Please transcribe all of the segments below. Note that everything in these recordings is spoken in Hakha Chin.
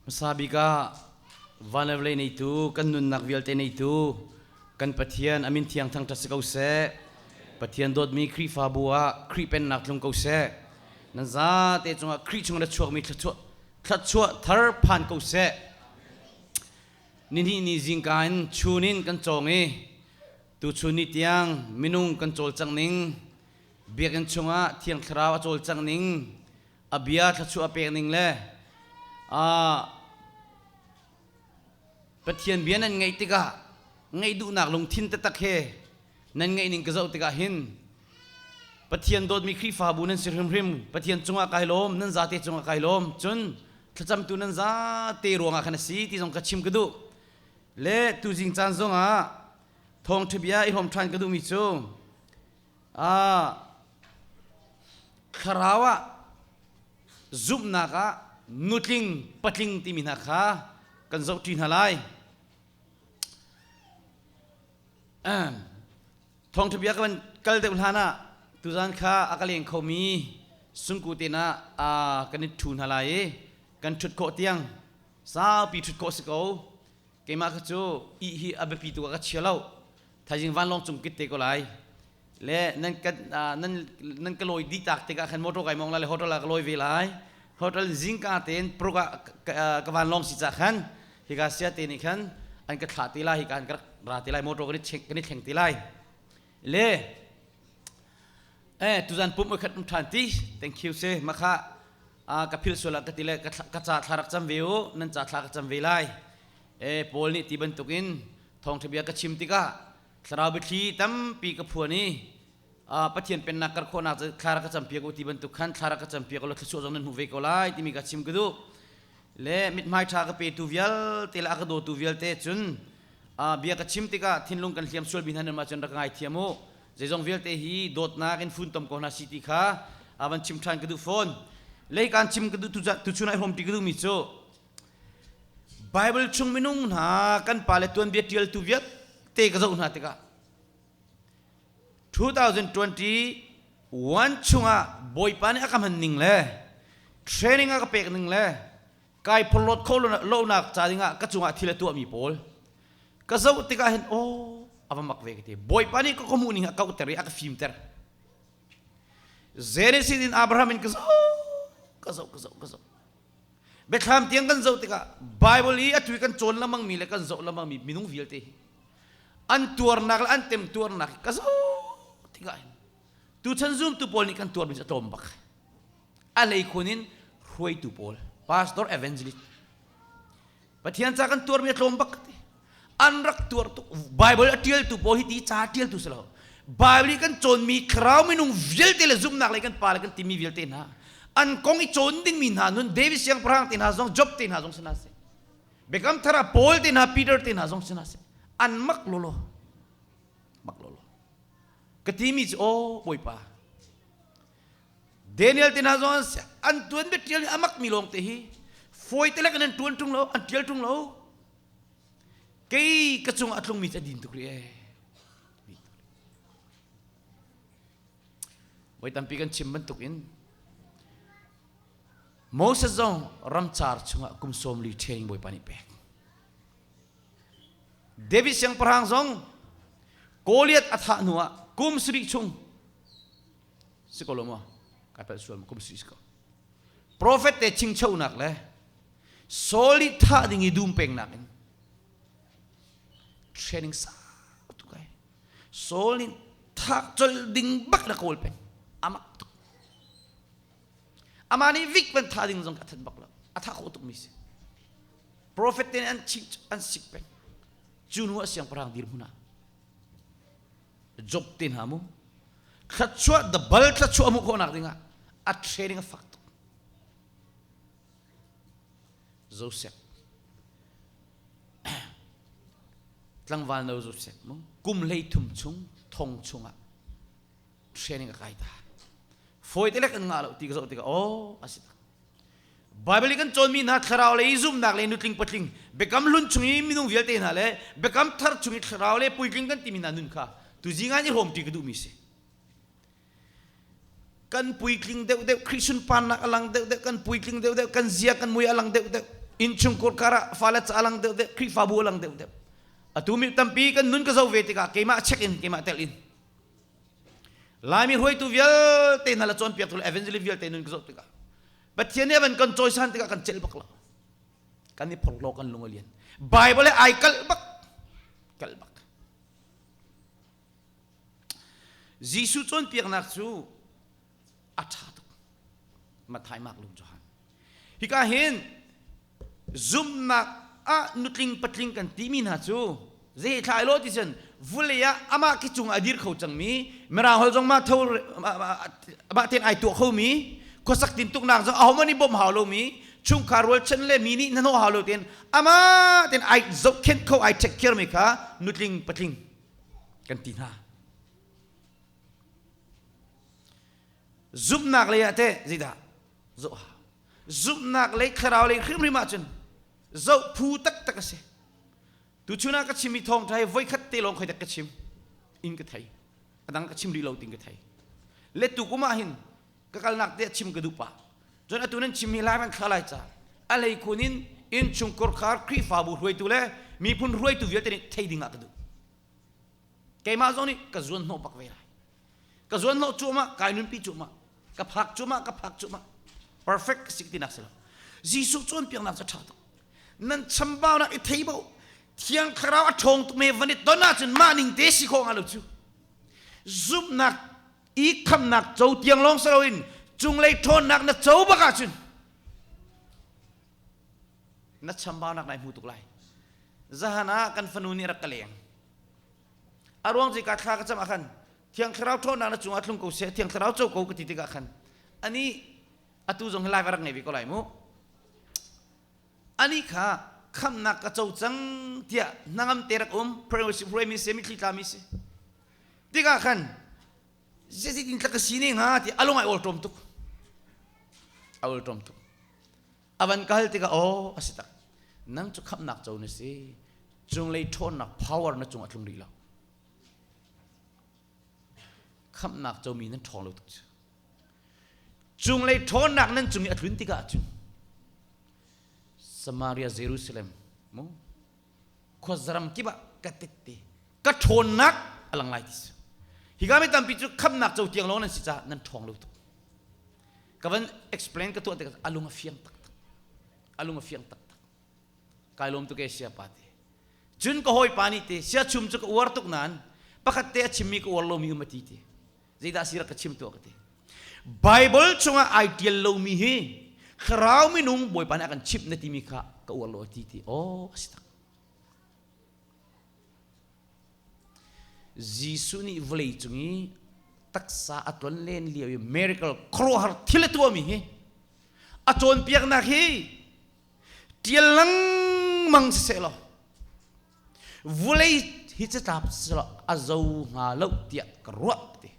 hmasa bik ah van le vawlei neitu kan nunnak vialte neitu kan pathian amin thiang thangṭhat si ko seh pathian dawtmi khrihfabu ah khrih pennak tlung ko seh nan zate cungah khrih chungah na chuakmi thluachuah thluachuah thar phan ko seh nihnih ni zingka in chun in kan cawng i Tuchun ni tiang minung kan cawlcang ning, biakinn chungah thiang thlarau a cawlcang ning, a bia thluachuah a pek ning le ah, Pathian bia nan ngaih tikah ngaih duhnak lungthin taktak he nan ngaih ning ka zoh tikah hin Pathian dawtmi Khrihfabu nan si hrimhrim Pathian cungah kai lawm nan zate cungah kai lawm cun thlacamtu nan zate ruangah khan a si ti zong ka chim ka duh le tuzing caan zongah thawngṭhabia i hlawm ṭhan ka duhmi cu thlarau ah zumhnak ah nutling patling timi hna kha kan zohṭi hna lai. Thawngṭhabia ka van kal deuh hlan ah tuzan kha a ka leng khomi sungku tein ah kan i ṭhu hna lai i kan ṭhut khawh tiang Saupi ṭhut khawh a si ko. Keimah kha cu ih hi a biapi tuk ah ka chia lo. Thaizing vanlawng cung kit te ko lai. Le nan kan nan nan ka lawi dih tak tikah khan motor kai mong lai le hotel ah ka lawi ve lai. Hotel zingka tein pruk ah ka vanlawng si cah khan hika sia te nih khan an ka thlah te lai hika an ka ra te lai motor kan i thleng te lai le eh tuzan pum khat um than ti thank you se makha ka phil suala ka ti le ka ca thla rak cham ve u nan ca thla ka cham ve lai e paul nih ti bantukin thong thibia ka chim tikah thlarau biathli tampi ka phuan i pathian pennak kar khawnak thla ka campi ko ti bantuk khan thla ka campi ko lo thlusuah zong nan hmu ve ko lai timi ka chim ka duh le mithmai ṭha ka petu vialte le a ka dawtu vialte cun bia ka chim tikah thinlung kan hliam sual mi hna nih cun rak ngaithiam u zeizong vialte hi dawtnak in funtom ko hna si ti kha van chim ṭhan ka duh fawn lei kaan chim ka duh tuchun ai hrawmṭi ka duhmi cu Bible chung minung hna kan pale tuanbia ṭialtu vialte ka zoh hna tikah 2021 chungah bawipa nih a ka hman ning le training a ka pek ning le kai phorhlawt kho lonak ca dingah ka cungah thil a tuahmi pawl ka zoh tikah hin aw a va mak ve ka ti bawipa nih ka ka hmuh ning a kauhter i a ka fimter Genesis in Abraham in ka zoh ka zoh ka zoh ka zoh Biathlam tiang kan zoh tikah Bible i a tui kan cawn lengmangmi le kan zoh lengmangmi minung vialte an tuarnak le an temtuarnak ka zoh tikah hin tuchan zumtu pawl nih kan tuarmi cu a tlawm bak a lei khun in hruaitu pawl pastor evangelist Pathian ca kan tuarmi a tlawm bak ti. An rak tuar tuk. Bible a tialtu pawl hi ti ca tialtu si lo. Bible i kan cawnmi thlarau minung vialte le zumhnak le kan pa le kan timi vialte hna an kong i cawn dingmi hna nun David siangpahrang te hna zong Job te hna zong si hna si Biakam Thara Paul te hna Peter te hna zong si hna si an mak lolo mak lolo ka timi cu o bawipa Daniel te hna zawn an tuan bik ṭial a mak mi lawng te hi fawi te lek an ṭuan ṭung lo an ṭial ṭung lo kei ka cung a tlung mi cu din tuk ri e voi tampi kan chim bantuk in Moses zong ramcar chungah kum sawmli training bawipa nih pek David siangpahrang zong Goliath a thah hnu ah kum sarih chung si ko lo maw kai palh sual maw kum si ko profet te chingchonak le solid thah ding i dum pengnak in training sa tu kai solid thak chol ding bak la kawl pe amak tuk ama ni vik ban tha ding zong ka than bak lo atha kho tuk mi si profet te an ching an sik pe cu nu a siang parang dir huna Job te hna mu thlatchuah the bal thlatchuah mu khawhnak dingah a training a fak tuk Joseph tlangval no Joseph mu kum hlei thum chung thong chungah training a kai ta foi te lek an nga lo ti ka zo ti ka oh asi ta Baibal i kan cawnmi hna thlarau lei i zumnak le nutling patling biakam hlun chung i minung vialte hna le biakam thar chung i thlarau le puitling kan timi hna nun kha tuzi ngan i hrawmṭi ka duhmi si. Kan puitling deuhdeuh Christian parnak a lang deuhdeuh kan puitling deuhdeuh kan zia kan mui a lang deuhdeuh innchung kurkar ah fale ca a lang deuhdeuh Khrihfabu a lang deuhdeuh atu mi tampi kan nun ka zo ve tikah keimah check in keimah tel in Laimi hruaitu vialte hna le cawnpiaktu le evangelist vialte nun ka zoh tikah Pathian nih a van kan cawisan tikah kan celh bak lo kan i phorhlaw kan lung a lian Bible ai kalh bak kalh bak Jesuh cawnpiaknak cu a ṭha tuk Matthai Marklung Johan hika hin zumnak ah nutling patling kan timi hna cu zeithlai lo ti cun vulei ah amah khi cung a dir kho cangmi mirang hol zong mah tho mah ten ai tuah khomi khuasak tin tuknak zong ahoman i bawm hau lomi chungkhar rualchan le mi nih nanho hau lo ten amah ten ai zohkhenh kho ai check care mi kha nutling patling kan ti hna zumhnak lei ah teh zeidah zoh hau zumhnak lei thlarau lei hrimhrim ahcun zoh phu taktak a si tuchun ah ka chimmi thawngṭha hi voikhat te lawng khoi tak ka chim in ka thei ka dang ka chim rih lo ting ka thei le tukum ah hin ka kalnak te chim ka duh pa cun atu nan chimmi lai man kha lai ca a lei kun in innchung korkhar khrihfabu hruaitu le miphun hruaitu vialte nih thei ding ah ka duh keimah zong nih ka zuan hnawh bak ve lai ka zuan lo cuamah kai nunpi cuamah ka phak cuamah ka phak cuamah perfect ka si tinak si lo Jesuh cawnpiaknak cu ṭha tuk nan chambaunak i thei bo thiang thlarau a ṭhawng tuk me van i ton ahcun mah ning te si khawh hnga lo cu zumhnak i khamnak co tiang lawng si loin cunglei ṭhawnnak na co bak ahcun na chambaunak nai hmu tuk lai zahan ah kan fanu nih rak ka leng A ruang cu ka thla ka cam ah khan Thiang Thlarau ṭhawnnak na cungah tlung ko seh Thiang Thlarau co ko ka ti tikah khan ani atu zong hi lai ka rak ngei ve ko lai mu ani kha khamnak ka co cang tiah hnangam te rak um prayer worship hruai mi se mitthli tla mi si tikah khan zeiti tin tlak ka si ne hnga ti alung ai awlṭom tuk a awlṭom tuk a van kal tikah aw a si tak nang cu khamnak co na si cunglei ṭhawnnak power na cung a tlung rih lo khamnak comi nan ṭhawng lo tuk cu cunglei ṭhawnnak nan cung i a tlun tikah cu Samaria Jerusalem mu khuazaram kibah ka titti ka ṭhawnnak a lang lai ti hi kami tampi cu khamnak co tiang lo nan si caah nan ṭhawng lo tuk ka van explain ka tuah tikah a lung a fiang taktak a lung a fiang taktak kai lawm tu ke sia pa te cun ka hawi pa nih te sia chum cu ka uar tuk nan pakhat te a chimmi ka uar lomi um ati te zeidah si rak ka chim tuah ka te bible chungah ai tial lomi hi kharau minung bawipa nih a kan chimh na timi kha ka uar lo ati ti oh a si tak Jesuh nih vawleicung i taksa a ton len lio i miracle khuaruahhar thil a tuahmi hi a cawnpiaknak hi ṭial lengmang siseh law vawlei hi catap siseh a zo hnga lo tiah ka ruah ti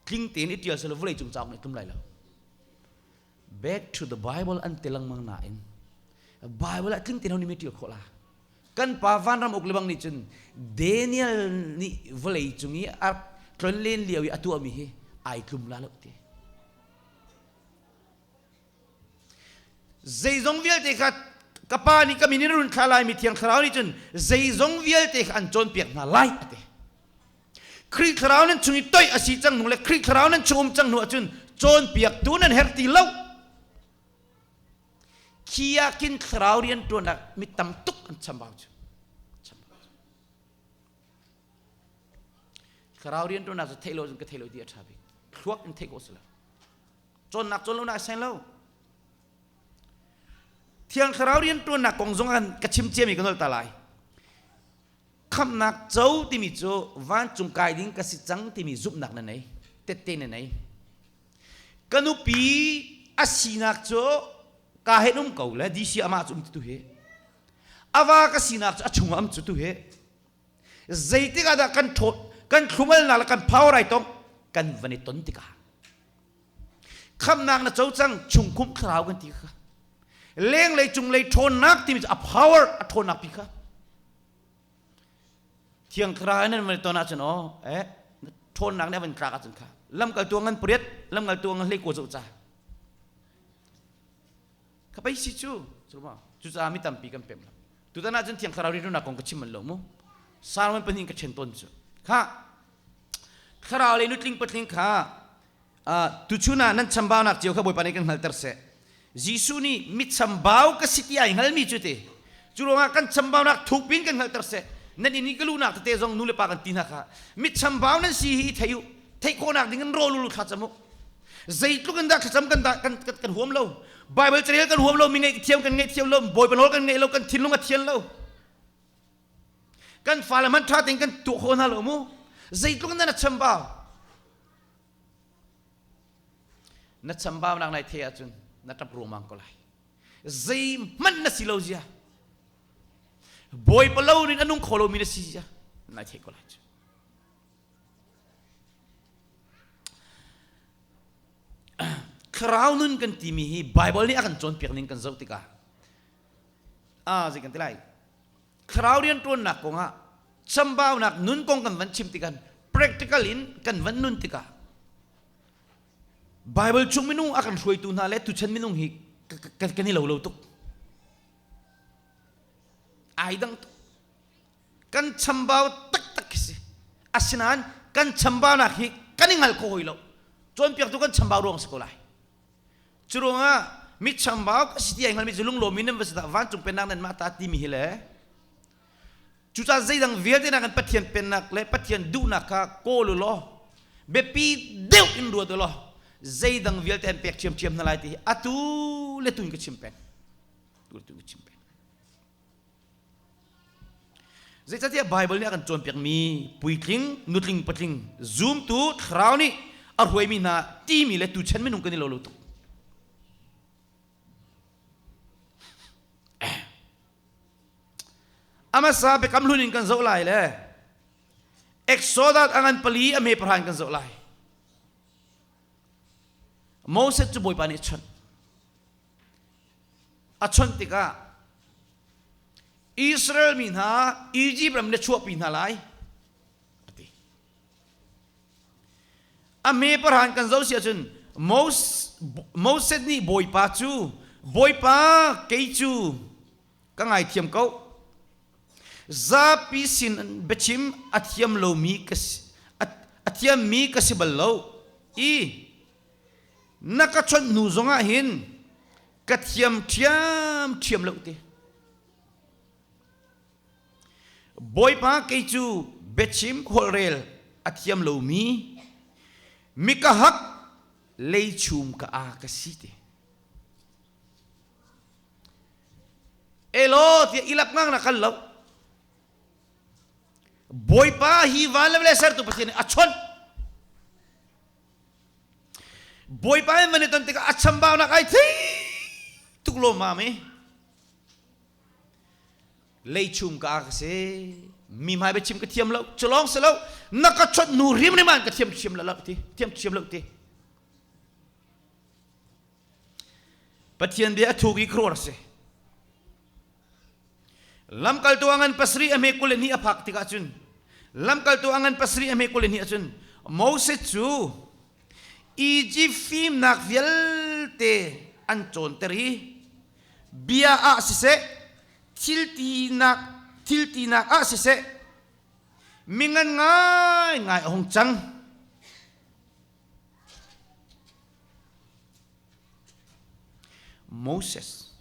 tling tein i ṭial silo vawleicung cauk nih tlum lai lo back to the bible an ti lengmang nain bible ah tlin ti lo ni mi ṭial khawh la kan pa vanram uk lebang nih cun daniel nih vawlei cung i a tlon len lio i a tuahmi hi ai tlum la lo ti zeizong vialte kha ka pa nih ka min in run thla lai mi thiang thlarau nih cun zeizong vialte kha an cawnpiak hna lai a ti Khrih thlarau nan chung i toih a si cang hnu le Khrih thlarau nan chung um cang hnu ahcun cawnpiaktu nan herh ti lo khiakin thlarau rian ṭuanak mi tam tuk an chambau cu thlarau rian ṭuanak cu theih lo cun ka theih lo ti a ṭha bik thluak in theih ko si lo cawnnak cawn lo na sain lo thiang thlarau rian ṭuannak kong zong ka chim ciami ka nolta lai khamnak co timi cu vancung kai ding ka si cang timi zumhnak na nei tette na nei ka nupi a sinak cu ka he um ko le dc amah cu um tu he ava ka sinak cu a chung am cu tu he zeitik ah dah kan thot kan thlumal na la kan phaurai tong kan van i ton tikah khamnak na co cang chungkum thlarau kan ti kha lenglei cunglei ṭhawnnak timi cu a power a ṭhawnnak pi kha thiang thlarau nan man ton ahcun aw eh na ṭhawnnak nih a van tlak ahcun kha lamkal tu ngan pariat lamkal tu ngan hlei ko zoh ca ka pei si cu cuma cucaah mi tampi kan pem lo tutan ahcun thiang thlarau rinunak kong ka chim manh lo mu salmon pahnih ka ṭhen tawn cu kha thlarau le nutling patling kha tuchun ah nan chambaunak cio kha Bawipa nih kan hngalter seh Jesuh nih mit chambau ka si ti ai hngalmi cu te cu ruangah kan chambaunak thuk pin kan hngalter seh nan in i ka lunak tete zong nu le pa kan ti hna kha mit chambau nan si hi thei u theih khawhnak ding in rawl ulu thla cam u zeitluk in dah thlacam kan kan kan huam lo Bible carel kan huam lo mi ngeih thiam kan ngeih thiam lo bawipa nawl kan ngeih lo kan thinlung a thian lo kan fa le man tha ting kan tuah kho hna lo mu zeitluk in dah na chambau na chambaunak lai thei ahcun na ṭap ruangmang ko lai zei hmanh na si lo zia bawi palo rin a nung kho lomi na si zia nai thei ko lai cu thlarau nun kan timi hi bible nih a kan cawnpiak ning kan zoh tikah ah zei kan ti lai thlarau rianṭuannak kongah chambaunak nun kong kan van chim tikhan practical in kan van nun tikah Bible chung minung a kan hruaitu hna le tuchan minung hi kan i lo lo tuk ai dang tuk kan chambau taktak khi si asinain kan chambaunak hi kan i ngal ko hoi lo cawnpiaktu kan chambau ruang si ko lai Curuangah mit chambauk a si ti hngalmi cu lunglawmi nan va si dah vancung pennak nan mah ta timi hi le cucaah zeidang vialte nak in Pathian pennak le Pathian duhnak kha kawl u law biapi deuh in ruat u law zeidang vialte an pek ṭhiamṭhiam hna lai ti hi atu le tun ka chim peng tu le tun ka chim peng Zeicatiah Baibal nih a kan cawnpiakmi puitling, nutling, patling, zumtu, thlarau nih a hruaimi hna timi le tuchan minung kan i lo lo tuk. Eh. A hmasa biakam hlun in kan zoh lai le Exodus angan pali a me parhan kan zoh lai. Moses cu Bawipa nih a chawnh. a chawnh tikah Israel mi hna Egypt ram na chuahpi hna lai a ti a me parhan kan zo si ahcun Moses nih bawipa cu bawipa kei cu ka ngaithiam ko zapi sin biachim a thiam lomi ka si a thiammi ka si bal lo i na ka chawnh hnu zongah hin ka thiam ṭhiamṭhiam lo te bawipa kei cu biachim khualrel a thiam lomi mika hak lei chung ka a ka si te elo tia ilak ngang na kal lo bawipa hi van le le sertu pathian a chawnh Bawipa he man i ton tikah a chambaunak ai thei tuk lo ma mi lei chum ka ka se mi mai ba chim ka thiam lo culong se lo na ka chot nu rim rim an ka thiam thiam la lo ti thiam thiam lo ti pathian bia a thu ki kror se lamkaltu angan pasri a hme kul hnih a phak tikah cun lamkaltu angan pasri a hme kul hnih ahcun Moses cu Egypt fimnak vialte an cawnter i bia ah siseh thiltinak thiltinak ah siseh mingan ngai ngai a hung cang Moses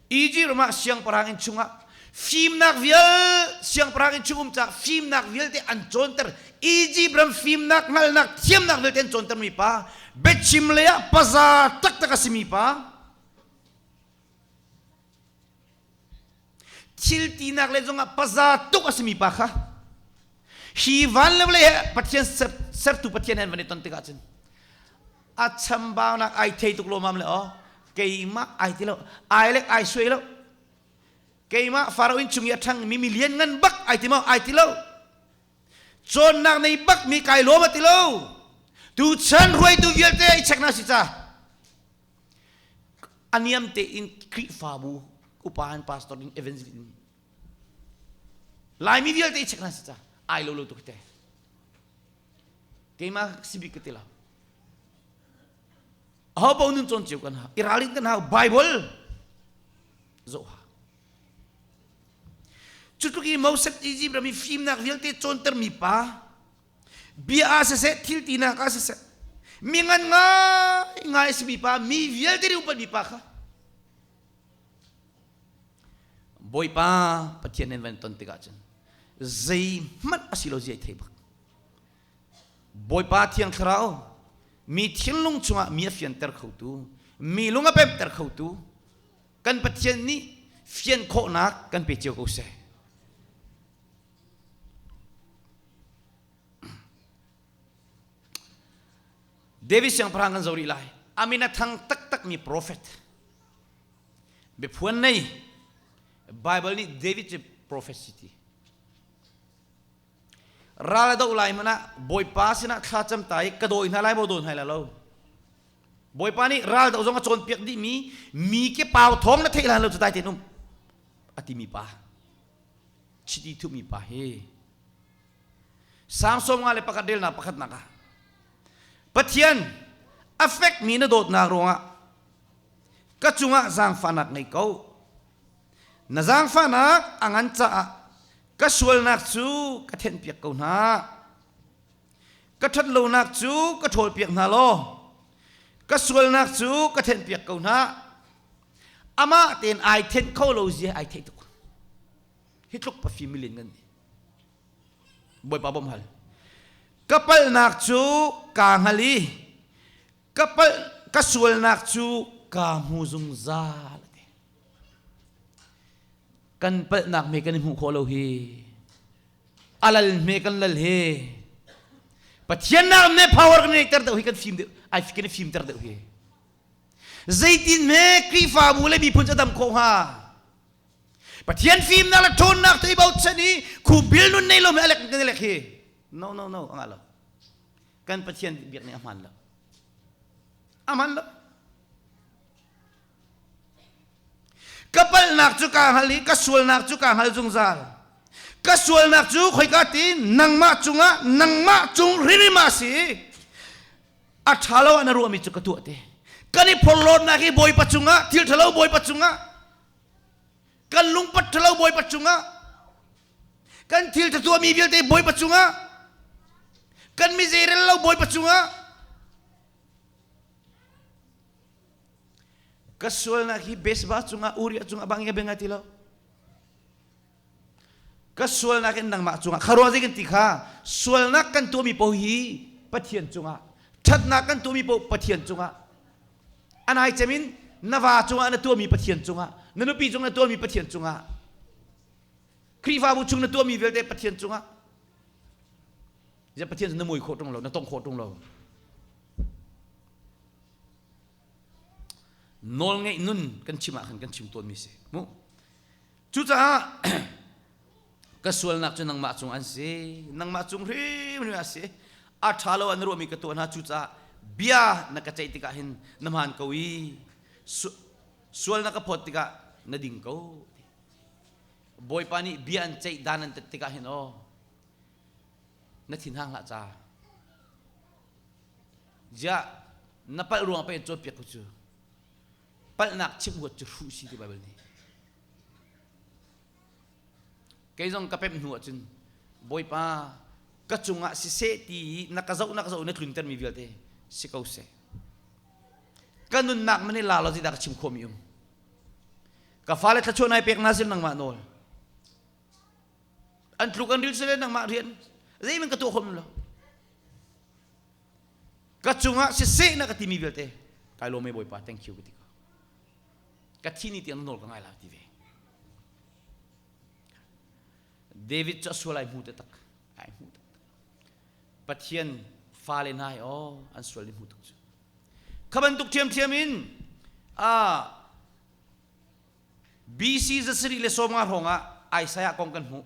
Egypt ramah siangpahrang inn chungah fimnak vial siangpahrang inn chung um cak fimnak vialte an cawnter Egypt ram fimnak hngalnak thiamnak vialte an cawnter mi pa biachim lei ah paza taktak a simi pa thil tinak le zongah paza tuk a simi pa kha hi van le vale he pathian sertu pathian han van i ton tikah cun a chambaunak ai thei tuk lomam le o keimah ai ti lo ai lek ai suai lo keimah farao in chung i a ṭhang mi milian ngan bak ai ti mo ai ti lo cawnnak nei bak mi kai lom a ti lo tu chan ruaitu vialte i chek na si ca a niam tein Khrihfabu upa in pastor in evangelist in Laimi vialte i check hna sica ai lo lo tuk te keima sibik ka ti lo ho po nun chon chiu kan ha i ralin kan ha bible zo ha cutluk i mosek egypt rami fimnak vialte cawnter mi pa bia ah siseh thil tinak ah siseh mi ngan ngai ngai simi pa mi vialte nih upat mi pa kha bawipa pathian nan van ton tikah cun zei hmanh a si lo zia thei bak bawipa thiang thlarau mi thinlung chungah mi a fianter khotu mi lung a pemter khotu kan pathian nih fian khawhnak kan pe cio ko seh David siangpahrang kan zo rih lai Aminathang taktakmi profet biaphuan nei Bible nih David cu profetsi ti ral do lai mana bawipa sinah thlacam ta i ka dawi hna lai maw dawi hna lai lo bawipa nih ral do zong a cawnpiak dihmi mi ke pau thong na theih lai lo cu dai tenum a timi pa chiti thuhmi pa hi sang sawmnga le pakhat relnak pakhatnak ah pathian a fekmi na dawtnak ruangah ka cungah zaangfahnak ngei ko na zaangfahnak a ngan caah ka sualnak cu ka thenpiak ko hna ka ṭhat lonak cu ka ṭhawl piak hna law ka sualnak cu ka thenpiak ko hna amah tein ai thenh kho lo zia ai theih tuk hi tluk pa fim milin kan ni bawipa bom hal ka palnak cu ka ngal i ka pal ka sualnak cu ka hmu zungzal ati kan palnak me kan i hmuh khawh lo hi alal me kan lal hi pathian nak me power kan nei ter deuh hi kan fim deuh ai kan i fim ter deuh hi Zeitin hme Khrihfabu le miphun cu a dam khawh hnga? Pathian fimnak le ṭhawnnak cu i bochan i khu bil nun nei lo me alek kan elek hi no no no anga lo kan Pathian biak nih a hman lo a hman lo ka palhnak cu kaa hngal i ka sualnak cu kaa hngal zungzal ka sualnak cu khoika ti nangmah cungah nangmah cung ririma si a ṭhalo ah na ruahmi cu ka tuah te kan i phorhlawtnak hi bawipa cungah thil ṭhalo bawipa cungah kan lungpat ṭhalo bawipa cungah kan thil ṭhatuahmi vialte bawipa cungah kan mizerel lo bawipa cungah ka sualnak hi besba cungah uriah cungah bangin a benga ti lo ka sualnak in nangmah cungah kha ruah kan ti kha sualnak kan tuahmi paoh hi pathian cungah ṭhatnak kan tuahmi paoh pathian cungah anai cem in na va cungah na tuahmi pathian cungah na nupi cungah na tuahmi pathian cungah Khrihfabu chung na tuahmi vialte pathian cungah ya pathian na mui khawh ṭung lo na tong khawh ṭung lo nawl ngeih nun kan chim ah khan kan chim tawnmi si mu Cucaah ka sualnak cu nangmah cung an si nangmah cung hrimhrim a si a ṭha lo an ruahmi ka tuah hna cucaah bia na ka ceih tikah hin na hmaan ko i sual na ka phawt tikah na ding ko bawipa nih bia an ceih dan an tat tikah hin aw na thinhang hlah ca ziah na palh ruang pei caw piak cu palhnak chimhuat cu hruh si ti Baibal nih kei zong ka pemh hnu ah cun Bawipa ka cungah siseh ti i na ka zoh na ka zoh na tlun termi vialte si ko seh ka nunnak man i la lo tidah ka chim khawmi um ka fale thluachuah nai pek na sim nangmah nawl an tluk an ril sale nangmah rian zeimin ka tuah khom lo ka cungah siseh na ka timi vialte kai lawm e bawipa thank you ka ti ka thi ni tiang nawl ka ngai la ti ve david cu a sual ai hmu te tak ai hmu te pathian fale hna ai aw an sual ni hmu tuk cu kha bantuk thiamthiam in a BC zasari le sawma hrawngah Isaiah kong kan hmuh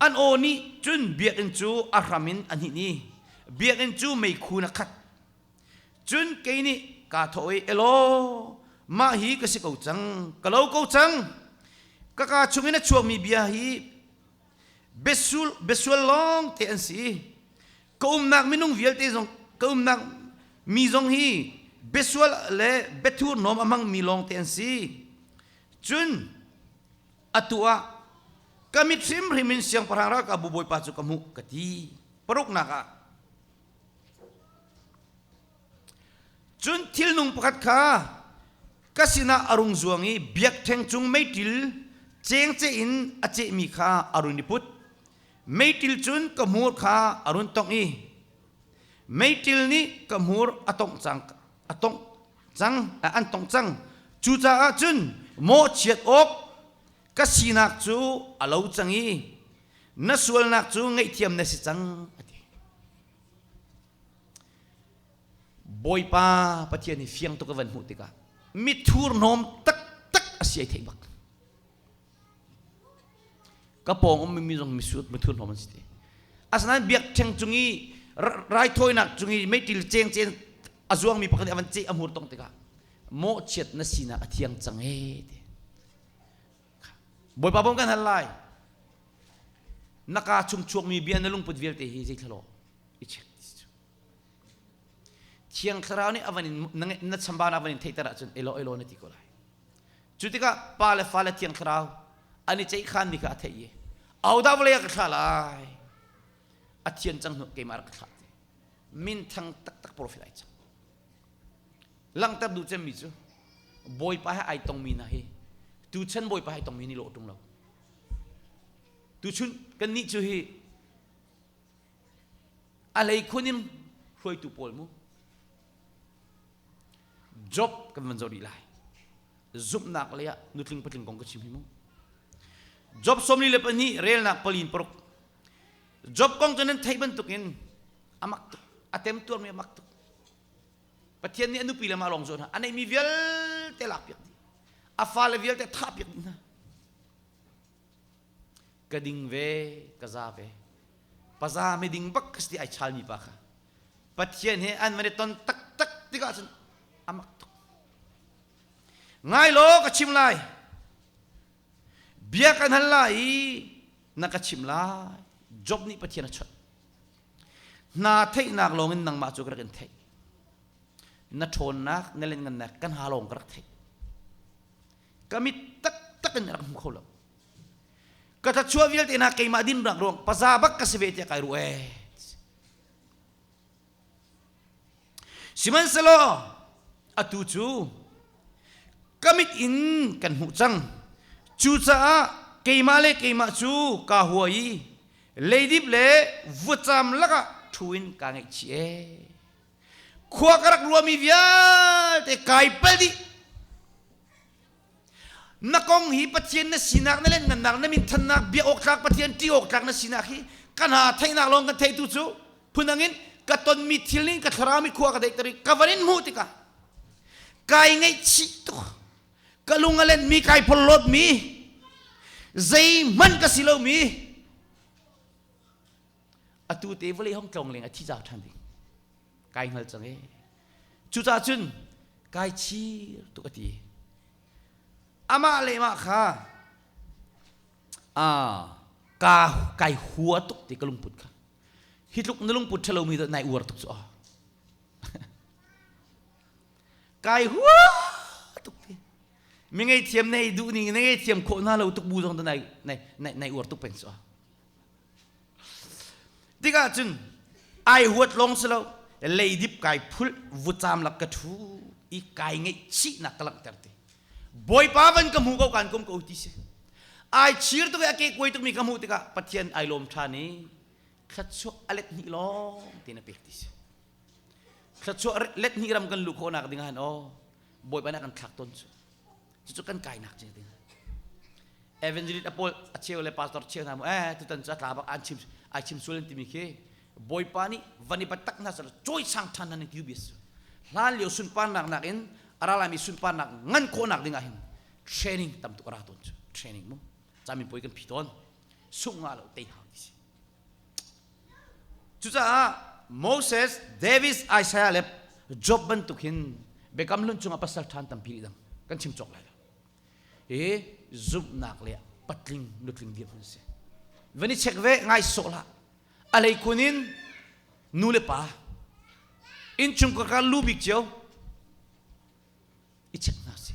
An aw nih cun biakinn cu a hram in a hnin i biakinn cu meikhu in a khat. Cun kei nih kaa thawh i, Elaw, mah hi ka si ko cang, ka lo ko cang. Ka kaa chungin a chuakmi bia hi besual, besual lawng te an si. Ka umnak minung vialte zong, ka umnak mi zong hi besual le bethurnom a hmangmi lawng te an si. cun atu ah ka mit hrimhrim in siangpahrang ralkapbu bawipa cu ka hmuh ka ti paruknak ah cun thilnung pakhat kha ka sinah a rung zuang i biakṭheng cung meiṭil cengce in a cehmi kha a run i put meiṭil cun ka hmur kha a run tongh i meiṭil nih ka hmur a tongh cang a tongh cang an tong cang cucaah cun mawhchiat awk ka sinak cu a lo cang i na sualnak cu ngaihthiam na si cang a ti bawipa pathian i fiang tuk a van hmuh tikah mithur hnawm taktak a si ai theih bak ka pawng um mi zong misuat mithur hlawm an si te asinain biakṭheng cung i raithawinak cung i meiṭil ceng cen a zuang mi pakhat nih avan ceh a hmur tong tikah mawhchiat na sinak a thiang cang ee ti bawipa bom kan hal lai na ka chung chuakmi bia na lungput vialte hi zeitlalo i check thiang thlarau nih avan in na chambana avan in theihter ahcun elo elo na ti ko lai Cu tikah pa le fa le thiang thlarau an i ceihkhanmi kha a theih i ahodah vawlei ah ka thlah lai a thian cang hnu keimah rak ka thlah ti minthang taktak profet ai cang langhter duh cemmi cu bawipa he ai tongmi hna hi tuchan bawipa hai tongmi nih lawh ṭung lo tuchun kannih cu hi a lei khun in hruaitu pawl mu job kan van zoh rih lai zumhnak lei ah nutling patling kong ka chim hi mu job sawmli le pahnih relnak pali in paruk job kong cu nan theih bantuk in a mak tuk a tem tuarmi a mak tuk pathian nih a nupi le ma lawng zuan a neihmi vialte lak piak dih a fale vialte thah piak dih hna ka ding ve ka za ve paza miding bak ka si ai chal mi pa kha pathian he an mane ton tak tak tikah cun amak tuk ngai lo ka chim lai bia kan hal lai i na ka chim lai job nih pathian a chuat hna theihnak lawngin nangmah cu ka rak in theih na ṭhawnnak na len ngannak kan ha lawng ka rak theih ka mit taktak in rak hmu kho lo ka thachuah vialte na keimah din rak ruang paza bak ka si ve tiah kai ruh e sihmanhselaw atu cu ka mit in kan hmuh cang cucaah keimah le keimah cu ka hua i leidip le vutcam lakah ṭhu in ka ngaihchih e khua ka rak ruami vialte kai pal dih na kong hi pathian na sinak na lenngannak na min thannak bia awktlak pathian ṭi awktlak na sinak hi kan ha theihnak lawng kan theitu cu phundang in ka tonmi thil ning ka thlarami khua ka deik tari ka van in hmuh tikah kai ngaihchih tuk ka lung a lenmi kai phollawtmi zei man ka si lomi atu te vawlei hong tlawng leng a thi zau ṭhan ding kai hngal cang e cucah cun kai chir tuk a ti amah le mah kha a ka kai hua tuk ti ka lungput kha hi tluk na lungput ṭhalomi dot nai uar tuk cu a kai hua tuk ti mi ngei thiam nei duh ning na ngei thiam khawh na lo tuk bu zong dot nai nai nai uar tuk peng cu a tikah cun ai huat lawng si lo leidip kai phul vucam lak ka thu i kai ngeih chihnak ka langhter te bawipa van ka hmu ko kan kum ko ti si ai chir tuk i a ke kuai tuk mi ka hmuh tikah pathian ai lawm than i thlatchuak a let hnih lawng ti na pek ti si thlatchuah let hnih ram kan lu khawnak ding han o bawipa na kan thlak ton chu cucu kan kainak ce ding evangelist apol acheu le pastor cheu hna mu eh tutan cu atla bak an chim ai chim sul timi khi bawipa nih van i batak hna sar choi sang than nan ti bis hlan lio sunparnak nak in aralami sunparnak ngan khawnak dingah hin training tam tuk ara ton chu training mu chamin poi kan phi ton sung nga lo te hang disi Cucaah Moses, David, Isaiah le Job bantuk hin Biakam Hlun cungah pasal ṭhan tampi dang kan chim cawk lai lo. I zumhnak le patling nutling dirhmun si. Van i check ve ngai sawh la. A lei kun in nu le pa innchung kakar lu bik cio i check hna si.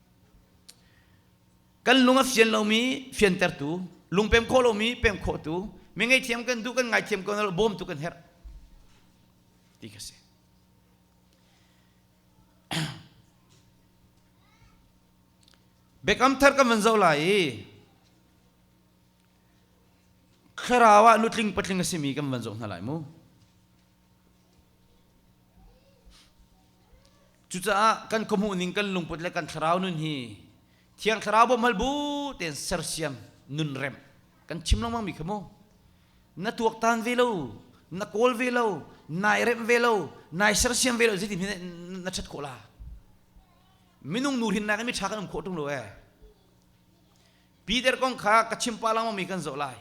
kan lung a fian lomi fiantertu lung pem khawh lomi pem khawhtu mi ngaihthiam kan duh kan ngaithiam ko bawm tu kan herh ti ka si biakam thar kan van zoh lai i Thlarau ah nutling patling a simi kan van zoh hna lai mu. Cucaah kan khuamuh ning kan lungput le kan thlarau nun hi thiang thlarau bom hal bu ten sersiam nun rem kan chim lengmang mi kha mu na tuak tan ve lo na kawl ve lo nai rem ve lo nai sersiam ve lo zeti hi na chat khawh la minung nu hin nak in mi tha kan um khawh tung lo e Peter kong kha ka chim pah lengmangmi kan zoh lai.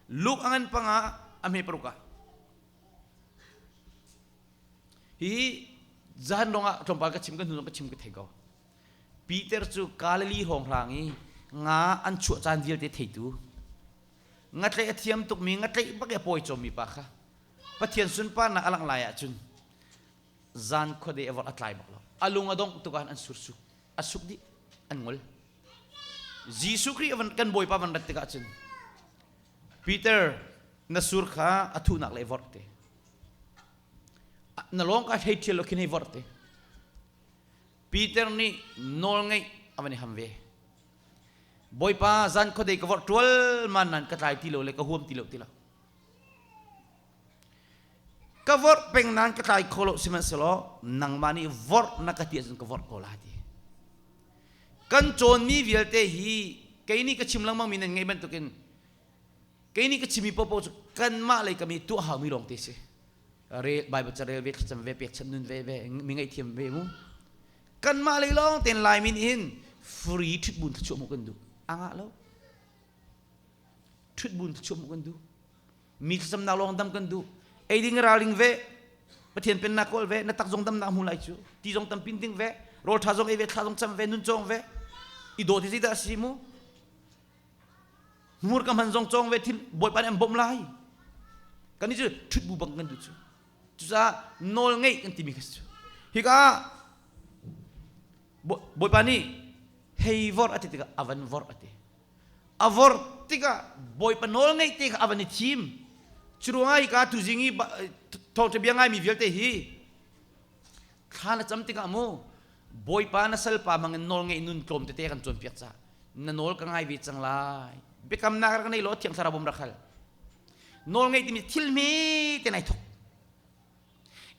Luke a ngan panga a hme paruk ah. Hi zan lawngah tlawmpal ka chim ka hnu ka chim ka thei ko. Peter cu Galilee hawng hlang i nga an chuah caan vialte theitu. Ngatleih a thiam tukmi ngatleih bak a pawi cawmi pa kha Pathian sunparnak a langh lai ahcun zan khuade a vorh a tlai bak lo. A lung a dongh tukah an sursu. A suk dih. An ngol. Jesuh Khrih kan Bawipa van rat tikah cun Peter na sur kha a thuhnak le vorh te na lawng ka hlei ṭhial lo khin hei vorh te Peter nih nawl ngeih a van i ham ve Bawipa zan khuadei ka vorh ṭual man nan ka tlai ti lo le ka huam ti lo ti lo ka vorh peng nan ka tlai kho lo sihmanhsehlaw nangmah nih vorh na ka ti ahcun ka vorh ko la ti kan cawnmi vialte hi kei nih ka chim lengmangmi nan ngaih bantukin kei nih ka chimmi paohpaoh cu kanmah lei kam i tuah haumi lawng te si rel bible ca rel ve thlacam ve pekchanh nun ve ve mi ngaihthiam ve mu kanmah lei lawng ten laimi nih hin free ṭhutbun thachuah mu kan duh a ngah lo ṭhutbun thachuah mu kan duh mi thlacamnak lawng dam kan duh eiding ralring ve pathian pennak kawl ve na tak zong dam nak hmu lai cu ti zong tam pin ding ve rol tha zong ei ve thla zong cham ve nun chong ve i do ti da si mu mur kam han zong chong ve thil boi pan em bom lai kan ni chu thut bu bang kan du chu chu sa nol ngei kan ti mi khas chu hi ka boi pa ni hei vor ati tika avan vor ati a vorh tikah bawipa nawl ngaih te kha a van i thim curuangah hika tuzing i thawngṭa bia ngaimi vialte hi thla na cam tikah mu bawipa na salpa mangin nawl ngaih nun tlawm tete kan cawnpiak ca na nawl ka ngai ve cang lai biakamnak rak nei law thiang thlarau bom rak hal nawl ngaih timi thil hme te nai thok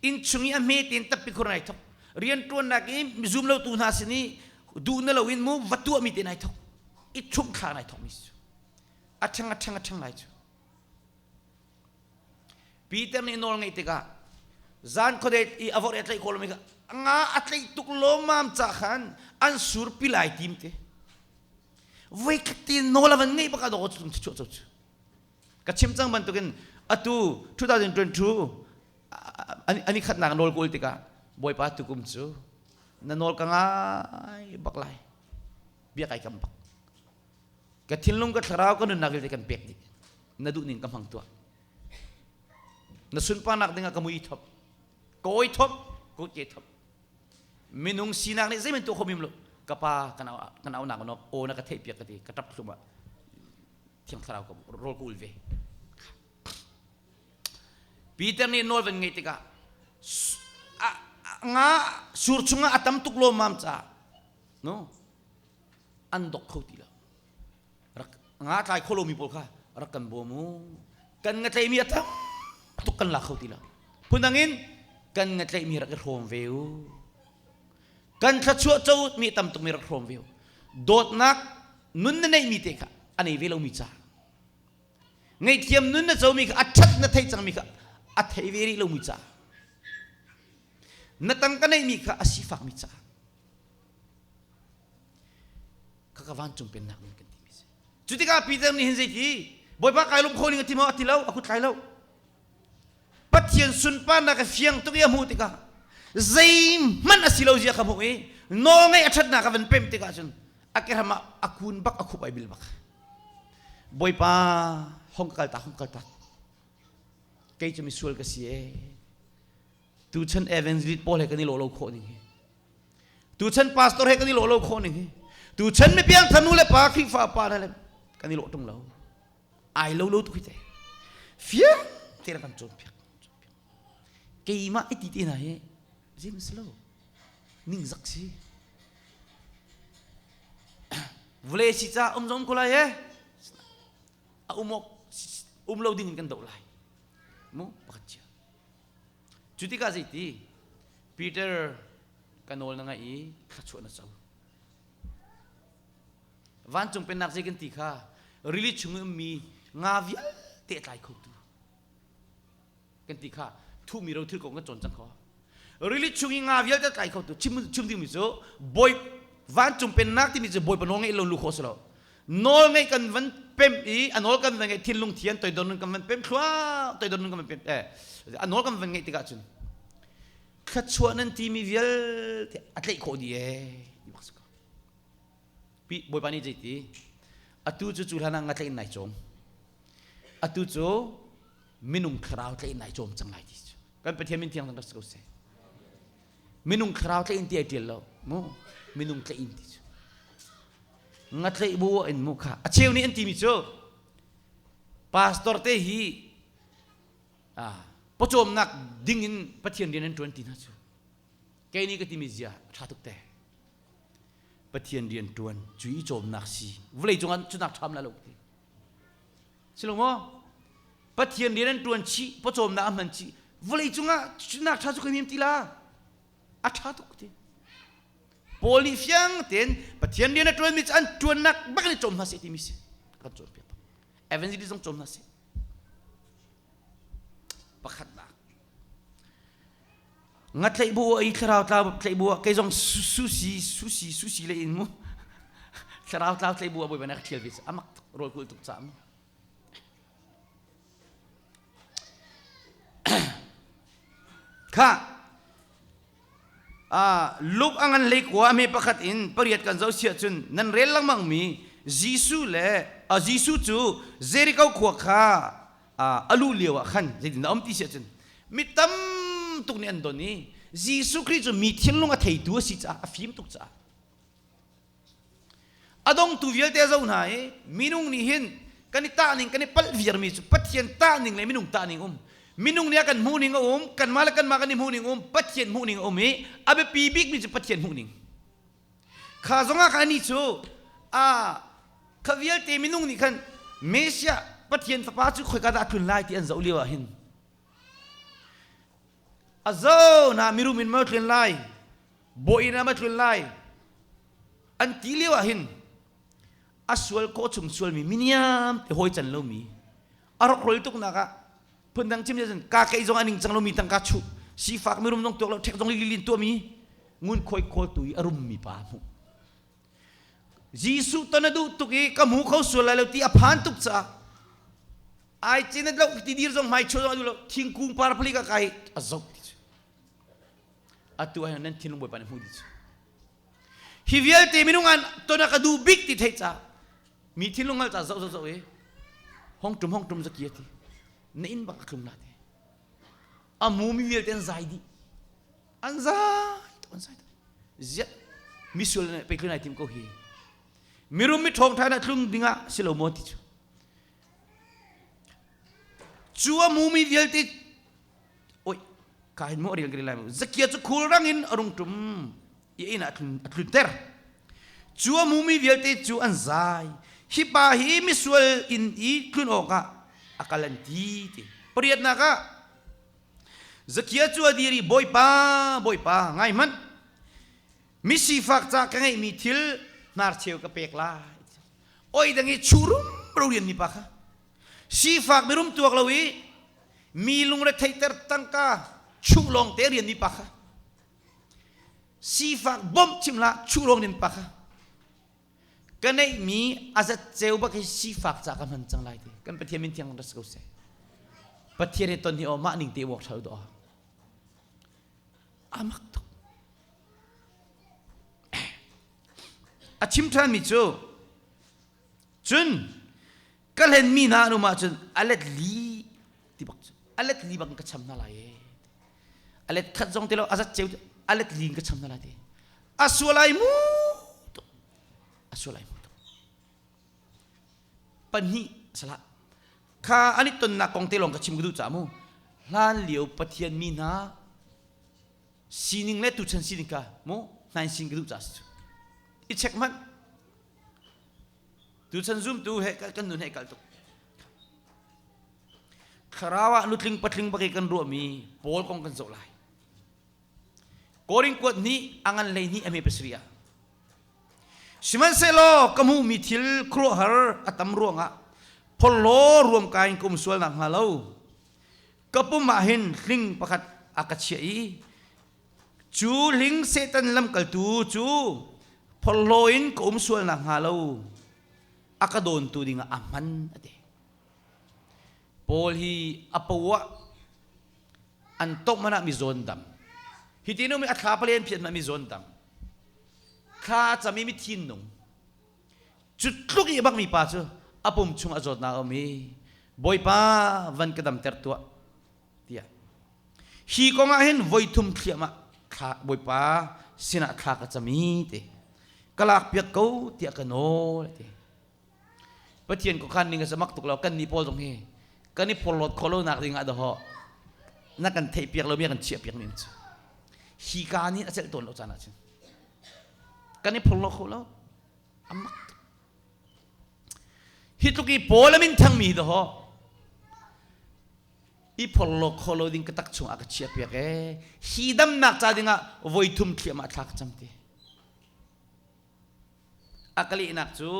inn chung i a hme tein tappi khur nai thok rianṭuannak i zum lo tu hna sin i duh na loin mu va tuahmi te nai thok i chum thla nai thokmi cu a ṭhang a ṭhang a ṭhang lai cu Peter nih nawl ngeih tikah zan khuadet i a vorh i a tlaih kawlmi kha nga a tlaih tuk lomam ca khan an sur pi lai tim te voi khat te nawl a van ngeih baka dawt tum chuah co cu ka chim cang bantukin atu 2022 ani khatnak nawl ka ul tikah bawipa tukum cu na nawl ka ngai bak lai bia kai kam bak ka thinlung ka thlarau ka nunnak vialte kan pek dih na duh ning ka hmang tuah na sunparnak dingah ka mui thop kawi thop ko ke thop minung sinak nih zeimen tu khomim lu ka pa kana kana nak nok o na ka theih piak ka ti ka tap thlum ah thiang thlarau ka rawl ka ul ve Peter nih nawl van ngei tikah nga sur chungah a tam tuk lo mam ca no an dok kho ti lo rak nga tlai kho lomi pawl kha rak kan bawm u kan nga tlaimi a tam tuk kan la kho ti lo phundang in kan nga tlaimi rak i hrawm ve u kan thluachuah cawmi tam tuk mi rak hrawm ve dawtnak nun na neihmi te kha a nei ve lomi ca ngaihthiam nun na comi kha a ṭhat na thei cangmi kha a thei ve rih lomi ca na tang ka neihmi kha a si fakmi ca kha ka vancung pennak nun kan ti mi si cu tikah Peter nih hin zei ti bawipa kai lum kho ning a ti maw a ti lo a kut tlai lo Pathian sunparnak a fiang tuk i a hmuh tikah zeihmanh a si lo zia ka hmuh i nawlngaih a ṭhatnak a van pemh tikah cun a keram ah a kun bak a khup ai bil bak. Bawipa hong ka kaltak hong kaltak. Kei cu misual ka si ee. Tuchan evangelist pawl he kan i lo lo khawh ning hi. Tuchan pastor he kan i lo lo khawh ning hi. Tuchan mi piangthar nu le pa, Khrihfa pa le kan i lo ṭung lo. ai lo lo tuk hi te fie te le kan cawn piak keimah i ti te hna hi zim si lo ningzak si vule si ca um zon ko lai e a um um lo ding in kan do lai mu pakhat chia cu tikah zeiti peter ka nawl na ngai i thla chuah na co vancung pennak zei kan ti kha rili chung i ummi nga vialte tlai khotu kan ti kha thuhmi ro thil kong kan cawn cang kho rili chung i nga vialte kai khotu chim chim dingmi cu bawi vancung pennak timi cu bawi panaw ngeih lo lu kho selo nawl ngeih kan van pem i a nawl kan van ngeih thinlung thian toidor nun kan van pem thluang toidor nun kan van pem eh a nawl kan van ngeih tikah cun thluachuah nan timi vialte a tleih khawh di ee Pi Bawipa nih zei ti? Atu cu cu hlanah nga tlaih in nai cawm. Atu cu minung thlarau tlaih in nai cawm cang lai ti cu. Kan Pathian min thiang rak si ko seh. Minung thlarau tlaih in ti ai ṭial lo. Mu minung tlaih in ti cu. Nga tlaih bu in mu kha. A cheu nih an timi cu pastor te hi ah pawcawmnak ding in Pathian rian an ṭuan ti hna cu. Kei nih ka timi zia ṭha tuk te. Pathian rian ṭuan cu i cawmnak si vawlei cungah cunak ṭham la lo ti si lo maw Pathian rian an ṭuan chih pawcawmnak a hman chih vawlei cungah cunak ṭha cu kai mem ti la a ṭha tuk ti Paul nih fiang tein Pathian rian a ṭuanmi cu an ṭuannak bak in cawm hna seh timi si kan cawnpiak evangelism cawm hna seh pakhatnak Nga tlaih bu ah i thlarau tlau tlaih bu ah kei zong susi susi susi le in mu thlarau tlau tlaih bu ah bawi banak thial ve amak rawl kul tuk ca mi kha a luk angan lei kwa me pakhat in pariat kan zo sia chun nan rel langmang mi Jesu le a Jesu cu Jericho khua kha a luh lio ah khan zeitin a um ti siah cun mi tam tuk nih an don i Jesuh Khrih cu mi thinlung a theitu a si caah a fim tuk caah a dongtu vialte a zo hna i minung nih hin kan i tahning kan i palh viarmi cu Pathian tahning le minung tahning um minung nih a kan hmuhning a um kanmah le kanmah kan i hmuhning um Pathian hmuhning a um i a biapi bikmi cu Pathian hmuhning Kha zongah khan anih cu a kha vialte minung nih khan Messiah Pathian fapa cu khoika dah a tlun lai ti an zoh lio ah hin a zo na mirum in maw tlun lai bawiin ah maw tlun lai an ti lio ah hin a sual kawh chung sualmi miniam te hawi can lomi a rokrol tuk nak ah phundang chim chin ka kei zong a ning cang lomi tangka chuh sifak mirum zong tuak lo ṭhek zong lilin tuami ngun khoi khawl tu i a rummi pa hmu Jesuh ton a duh tuk i ka mu kho sual lai lo ti a phan tuk ca ai chin lo ti dir zong mai cho zong a duh lo thingkung par phali ka kai a zok ti cu atu ai nan thinlung bawi pa ne hmu di cu Hi vialte minung an ton a ka duh bik ti theih ca mi thinlung hal ca zoh zoh zoh i hongtum hongtum zakia ti na in bang ka tlum na ti amu mi vialte an zai dih an zai to an zai to ziat misual na pekhlun ai tim ko hi mirum mi thong tha na tlung dingah si lo maw ti cu cu amu mi vialte oi kain mo ril gri lai mu zakia chu khul rang in arung tum i ina atlun ter chua mumi vialte cu an zai hi pa hi misual in i tlun awk ah akal an ti ti pariat nak ah zakia chu adiri boipa boipa ngai man misifak ca ka ngei mi thil nar cheu ka pek lai oi dangi churum rorian mi pa kha sifak mirum tuak lo i mi lungre theiter tangka chuh lawngte rian mi pa kha sifak bawmh chimla chuh lawng nin pa kha ka neihmi azat ceu bak hi sifak ca ka hman cang lai ti kan pathian min thiang ras ko se pathian he ton hi o mah ning te wok thal do amak tuk a chim than mi cu cun ka hlenmi hna an um ahcun a let li ti bak cu a let li bak in ka cham hna lai ee a let khat zong ti lo a zat ceu a let li in ka cham hna lai ti a sualai mu tuk a sualai mu tuk pahnih a salah kha an i tonnak kong te lawng ka chim ka duh caah mu hlan lio pathian mi hna sining le tuchan sining ka mu nain sin ka duh caah si cu i check hmanh Tuchan zumtu he kan nun he kalh tuk. Thlarau ah nutling patling bagi kan ruahmi Paul kong kan zoh lai. Korin kuat nih a ngan lei nih a me pasri ah. Sihmanhsehlaw ka hmuhmi thil khuaruahhar a tam ruangah pholaw ruam kain kum sual nak hnga lo ka pum ah hin hling pakhat a ka chiah i Cu hling Satan lamkaltu cu phorhlaw in ka um sual nakhnga lo a ka dawntu dingah a hman a ti. Paul hi a poah an tawk manah mi zawn dam. Hi ti nu mi a thla palen phian ma mi zawn dam. Thla cami mi thin nung. Cu tluk i bang mi pa cu a pum chung a zawt na um hi. Bawipa van ka dam ter tuah. tiah hi kong ah hin voi thum thliam ah thla bawipa sinah thla ka cam i ti ka lak piak ko tiah ka nawl ti pathian ko khan ning a samak tuk lo kan ni pawl zong hi kan i porlot kho lo nak ding ah daho na kan theih piak lo mi kan chia piak ning cu hi ka ni a cel tawn lo caan ah cun kan i phorlo kho lo amak tuk hi tluk i pawl amin thang mi daho i phorhlawk khawh lo ding ka tak chung ah ka chia piak ee hi damnak ca ding ah voi thum thliam ah thla ka cam ti a ka lehnak cu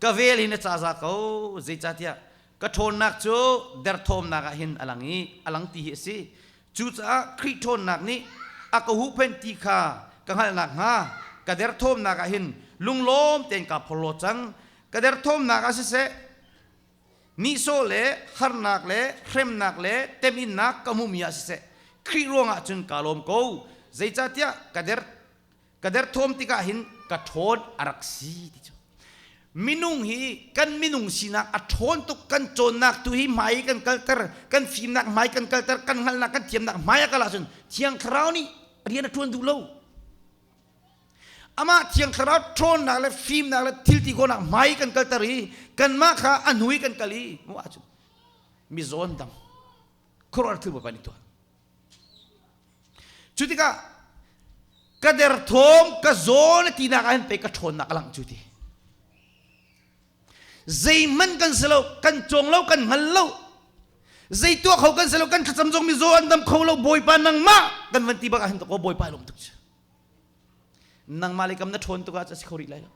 ka vel hin a caza ko zeicahtiah ka ṭhawnnak cu derthawmnak ah hin a lang i a lang ti hi a si cucaah Khrih ṭhawnnak nih a ka huhphenh ti kha ka hngalh nakhnga ka derthawmnak ah hin lunglawm tein kaa phorhlaw cang ka derthawmnak ah siseh nihsawh le harnak le hremnak le teminnak ka hmumi ah siseh Khrih ruangah cun ka lawm ko zeicahtiah ka der ka der thawm tikah hin ka ṭhawn a rak si ti cu minung hi kan minung sinak a ṭhawn tuk kan cawnnak tu hi hmai kan kalter kan fimnak hmai kan kalter kan hngalhnak kan thiamnak hmai a kal ahcun thiang thlarau nih rian a ṭuan duh lo amah thiang thlarau ṭhawnnak le fimnak le thilti khawnak hmai kan kalter i kanmah kha a hnui kan kal i mu ahcun mi zawn dang khuaruah thil kan i tuah cu tikah ka der thawm ka zawn tinak ahhin pei ka ṭhawnnak a lang cu ti zeihman kan si lo kan cong lo kan hngal lo zei tuah kho kan si lo kan thlacam zong mi zaw an dam kho lo bawipa nangmah kan van ti bak ahhin to ko bawipa lawm tuk cu nangmah le kam na ṭhawn tuk ah a si kho rih lai lo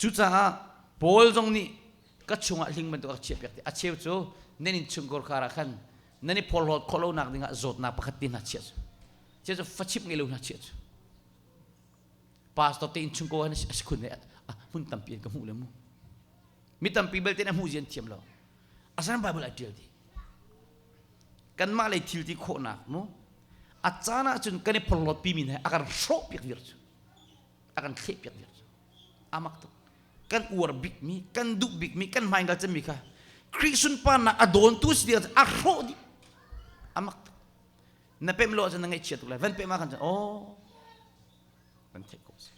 cucaah Paul zong nih ka chungah hling bantuk a chiahpiak a cheu cu nan in chungkor kar ah khan nan i phorhlawt khawh lonak dingah zawtnak pakhat te hna chiah cu chiah cu fachip ngei lo hna chiah cu pastor te in chungko han a si khun he hmun tampi an ka hmuh le mu mi tampi belte na hmuh zian thiam lo asan bible a tial di kanmah lei thil ti khawhnak mu a caan ahcun kan i porlot pi min he a kan hrawh piak dir cu a kan thleh piak dir cu amak tuk kan uar bik mi kan duh bik mi kan hmain ka cemmi kha khrih sunparnak a dawntu si dir a hrawh di amak tuk na pemh lo ahcun na ngaihchia tuk lai van pemh ah kan chan oh van theih ko si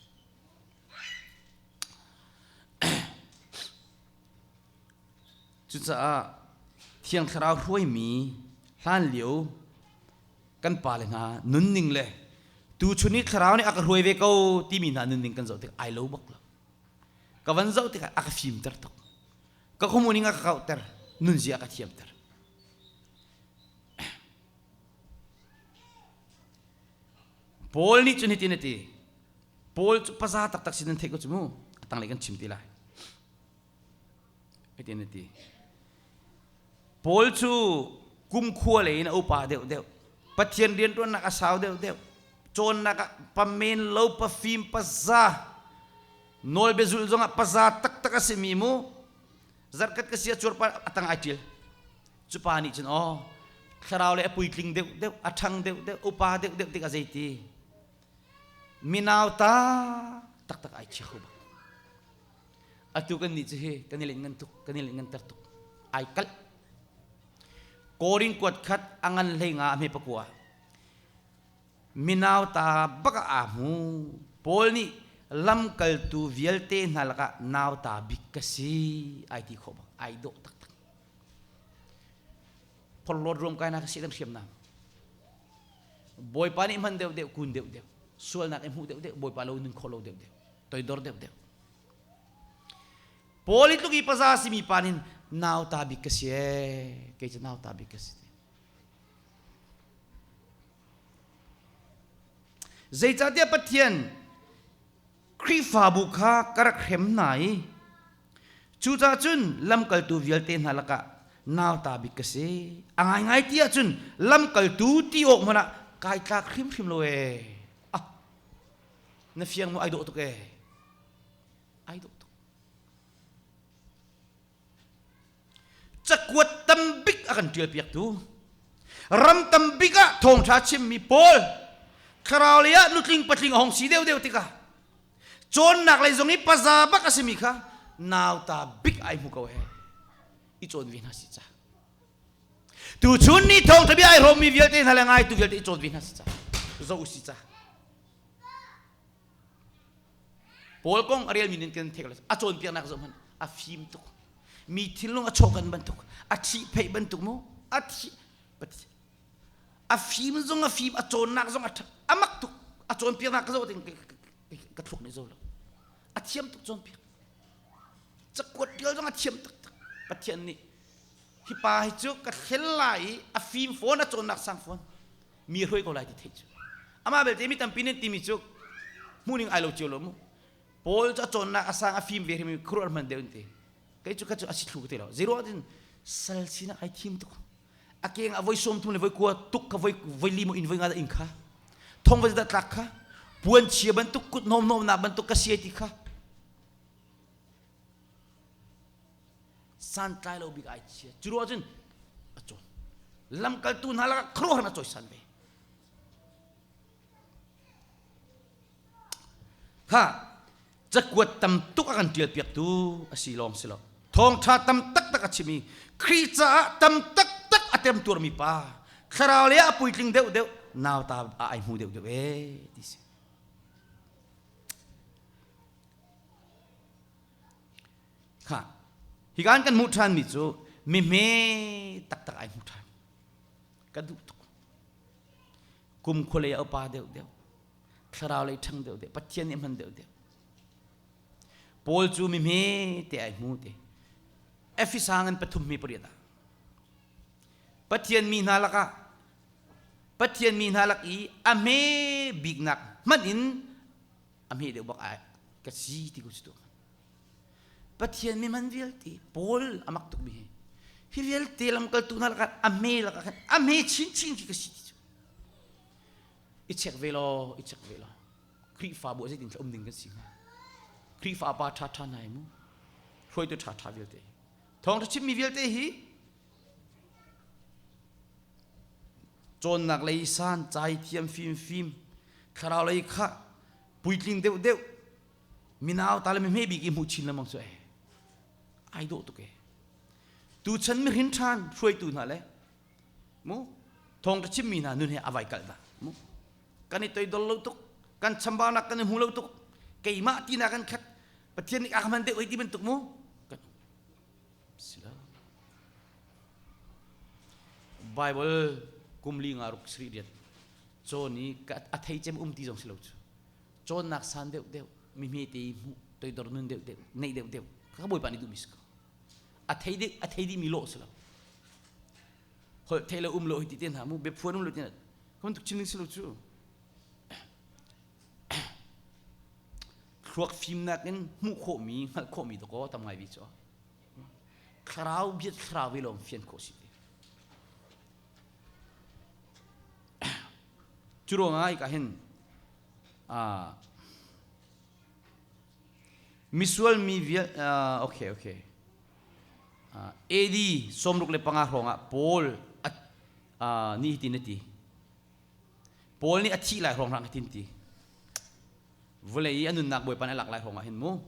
cucaah thiang thlarau hruaimi hlan lio kan pale hna nunning le tuchun i thlarau nih a ka hruai ve ko timi hna nunning kan zoh tik ai lo bak lo ka van zoh tikah a ka fimter tuk ka komuning a ka kauhter nunzia a ka thiamter Paul nih cun hitin a ti Paul cu paza taktak sin nan theih ko cu mu a tanglei kan chim ti lai hitin a ti Paul cu kumkhua lei in a upa deuhdeuh Pathian rianṭuannak a sau deuhdeuh cawnnak ah pamen lo pafim paza nawlbia zulh zongah paza taktak a simi mu zarhkhat ka sia cuarpar a tang ai ṭil Cupa nih cun aw thlarau le a puitling deuhdeuh a ṭhang deuhdeuh upa deuhdeuh tik a zeiti minau ta taktak ai chia kho bang atu kan nih cu hi kan i len ngan tuk kan i len nganter tuk ai kalh korin kuat khat a ngan hlei nga a hme pakua minau ta baka a mu paul nih lamkaltu vialte hna lakah nauta bik ka si ai ti khawh bang ai dawh taktak phorhlawt ruam kainak kha si kan hriam na bawipa nih hman deuh deuh kun deuh deuh sualnak i hmuh deuh deuh bawipa lo nun khawh lo deuh deuh toidor deuh deuh politluk i paza simi pa nin nauta bik ka si e kei cu nauta bik ka si zeicahtiah pathian Khrihfabu kha ka rak hrem hna i cucaah cun lamkaltu vialte hna lakah nauta bik ka si. A ngaingai ti ahcun lamkaltu ti awk hmanh ah kai tlak hrimhrim lo e. Ah, na fiang maw ai dawh tuk e. Ai dawh tuk. cakuat tambik a kan ṭialpiaktu ram tambik ah thawngṭha chimmi pawl thlarau lei ah nutling patling a hong si deuhdeuh tikah cawnnak lei zong i paza bak a simi kha nauta bik ai hmu ko he i cawn ve hna si ca tu chun ni thawngṭha bia ai hlawmmi vialte hna le ngaitu vialte i cawn ve hna si ca zo u si ca Paul kong a relmi nih kan thek le a cawnpiaknak zoh hmanh a fim tuk mi thinlung a chawkan bantuk a thih pheih bantuk mu a thi a fim zong a fim a cawnnak zong a a mak tuk a cawnpiaknak ka zoh tin ka thluak nei zo lo a thiam tuk cawnpiak cakuat tial zong a thiam tuk tak pathian nih hi pa hi cu ka thlel lai i a fim fawn a cawnnak sang fawn mi hruai ko lai ti thei cu amah belte mi tampi nan timi cu hmuhning ai lo cio lo mu paul cu a cawnnak a sang a fim ve hrim khuruar hman deuh in te kei cu ka cu a si thlu ka ti lo zeiro tin sal sin ai thim tuk a keng a voi som thum le voi kua tuk ka voi voi limo in voi nga da in kha thong voi da tlak kha puan chia bantuk kut nom nom na bantuk ka siai ti kha santlai lo bik ai chia cu ruah cun a cawn lamkaltu hna lakah khuaruahhar a cawisan ve kha cakuat tam tuk a kan ṭial piaktu a si lawng si lo thawngṭha tam taktak a chim i Khrih caah tam taktak a temtuarmi pa thlarau le a puitling deuh deuh nauta a ai hmu deuh deuh e ti si kha hi kan kan hmuh ṭhanmi cu mihme taktak ai hmu ṭhan ka duh tuk kum khualei a upa deuhdeuh thlarau lei ṭhang deuhdeuh pathian nih hman deuhdeuh paul cu mihme te ai hmu te efesa ngan pathummi pariat ah pathian mi hna lakah pathian mi hna lak i a hme biknak hmanh in a hme deuh bak ai ka si ti ku si tu Pathian mi man vialte Paul amak tukmi hi hi vialte lamkaltu hna lakah a hme lakah khan a hme chinchin khi ka si ti cu i chek ve law i chek ve law Khrihfabu ah zeitin um ding kan si hnga Khrihfa pa ṭha ṭha hna mu hruaitu ṭha ṭha vialte thawng ṭha chimmi vialte hi cawnnak lei san cai thiam fimfim thlarau lei kha puitling deuh deuh minau tale me bik i hmuh chin lengmang cu e ai dawh tuk e tu chan mi hrin than hruaitu hna le mu thong ka chim mi hna nun he avai kal na mu kan i toi dol lo tuk kan chambaunak kan i hmu lo tuk keimah ti na kan khat pathian nih akman de oi ti bantuk mu kan sila bible kumli nga ruk sri riat choni ka athei chem um ti zong silo chu cawnnak san deuhdeuh mi hmete i hmuh toidor nun deuhdeuh neih deuhdeuh ka bawipa nih duhmi si ko a thei dih a thei dihmi lawh si lo holh thei lo um lo hiti te hna mu biaphuan um lo ti kan tuk chin ding si lo cu thluak fimnak in hmuh khawhmi hngalh khawhmi to ko tam ngai bi cu thlarau biat thlarau ve lawm fian khawh si te cu ruangah i ka hin Misual mi vial, okay, okay. AD sawmruk le panga hrawngah Paul nih hitin a ti. Paul nih a thih lai hrawng hrang hitin ti. Vawlei i a nunnak bawipan a lak lai hrawngah hin mu.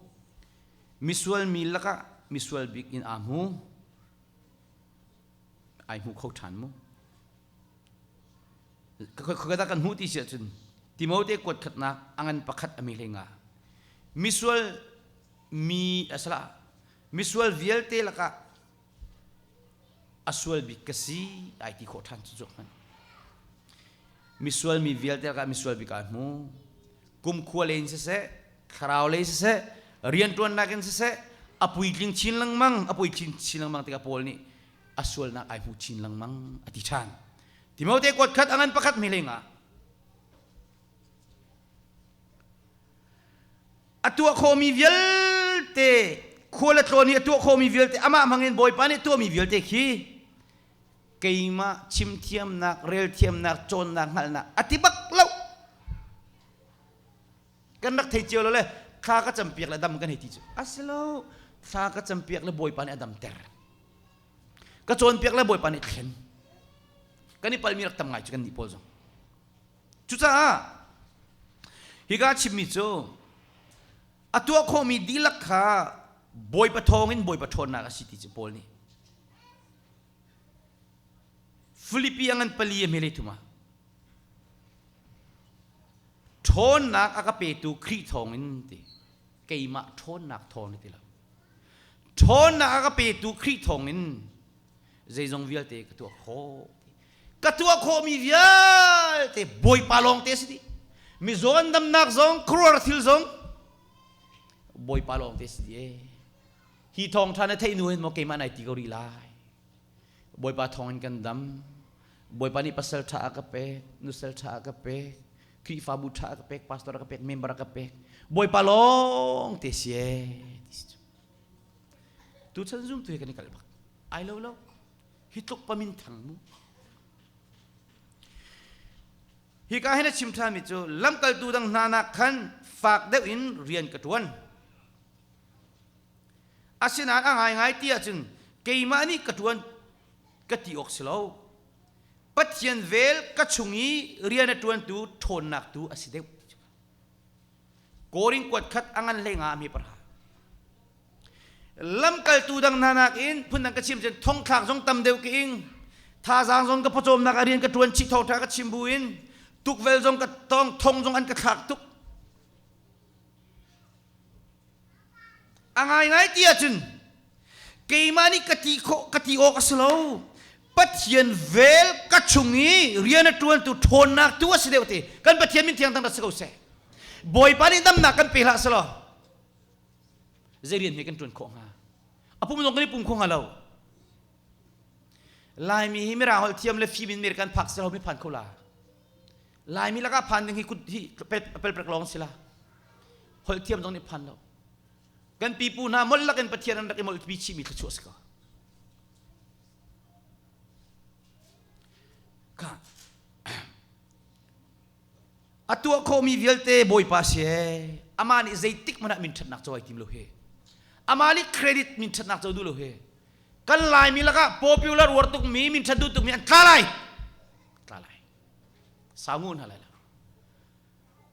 Misual mi lakah misual bik in aa mu. Ai mu kho ṭhan mu. Khuakat kan hmuh ti si ahcun Timote kuat khatnak a ngan pakhat a mi hlei nga misual mi asala misual vialte lakah a sual bik ka si ai ti khawh ṭhan cu hman misual mi vialte lakah misual bik ai hmu kumkhua len siseh thlarau lei siseh rianṭuan nakin siseh a puitling chin lengmang a puitling chin lengmang tikah Paul nih a sualnak ai hmu chin lengmang a ti ṭhan. Timote kuat khat a ngan pakhat mi lengah a tuah khomi vialte khua le tlawn i a tuah khomi vialte amah hmangin Bawipa nih tuahmi vialte khi keimah chim thiamnak rel thiamnak cawnnak hngalhnak a ti bak lo kan rak thei cio lo le thla ka campiak le dam kan hei ti cu a si lo thla ka campiak le bawipa nih a dam ter ka cawnpiak le bawipa nih a thlen kan i palmi rak tam ngai cu kan nih pawl zong cucaah higa chimmi cu a tuah khawhmi dihlak kha bawipa thawngin bawipa ṭhawnnak a si ti cu paul nih Filipi a ngan pali a hmelei thuma ṭhawnnak a ka petu Khrih thawngin ti keimah ṭhawnnak thawng ti lo ṭhawnnak a ka petu Khrih thawngin zeizong vialte ka tuah khawh ka tuah khawhmi vialte Bawipa lawng te si ti mizawn damnak zong khuaruah thil zong Bawipa lawng te si ti hi thawngṭha na theih hnu hin maw keimah nai ti ko rih lai bawipa thawngin kan dam bawipa nih pasal ṭha a ka pek nusal ṭha a ka pek khrihfabu ṭha a ka pek pastor a ka pek member a ka pek bawipa lawng te si tu chan zum tu hi kan i kal bak ai lo lo hi tluk pamin thang mu hi ka hin a chim ṭhami cu lamkaltu dang hnanak khan fak deuh in rian ka ṭuan Asinain a ngaingai ti ahcun keimah nih ka ṭuan ka ti awk si lo. Pathian vel ka chung i rian a ṭuantu ṭhawnnak tu a si deuh. Korin kuat khat a ngan hlei ngami parha. Lamkaltu dang hna nakin phundang ka chim cun thongthlak zong tam deuh ka ing. Thazaang zong ka pawcawmnak a rian ka ṭuan chih thawngṭha ka chim buin tukvel zong ka tong thong zong an ka thlak tuk. A ngaingai ti ahcun keimah nih ka ti khawh ka ti awk a si lo. Pathian vel ka chung i rian a ṭuantu ṭhawnnak tu a si deuh ti kan Pathian min thiang dang rat si ko seh. Bawipa nih damnak kan pe hlah selaw zei rian hme kan ṭuan khawh hnga? A pum zong kan i pum kho hnga lo. Laimi hi Mirang holh thiam le fim in mer kan phak selaw mi phan kho la. Laimi lakah phan ding hi kut hi pelprek lawng si la holh thiam zong nih phan lo kan pipu hna mol lakin pathian an rak i mol pi chihmi thluachuah si ko a tuah khawmi vialte bawipa si e ama nih zeitik hmanah min ṭhatnak co ai tim lo he ama nih credit min ṭhatnak co duh lo he kan laimi lakah popular ruar tukmi min ṭhat duh tukmi an tla lai tla lai sau ngu hna lai lo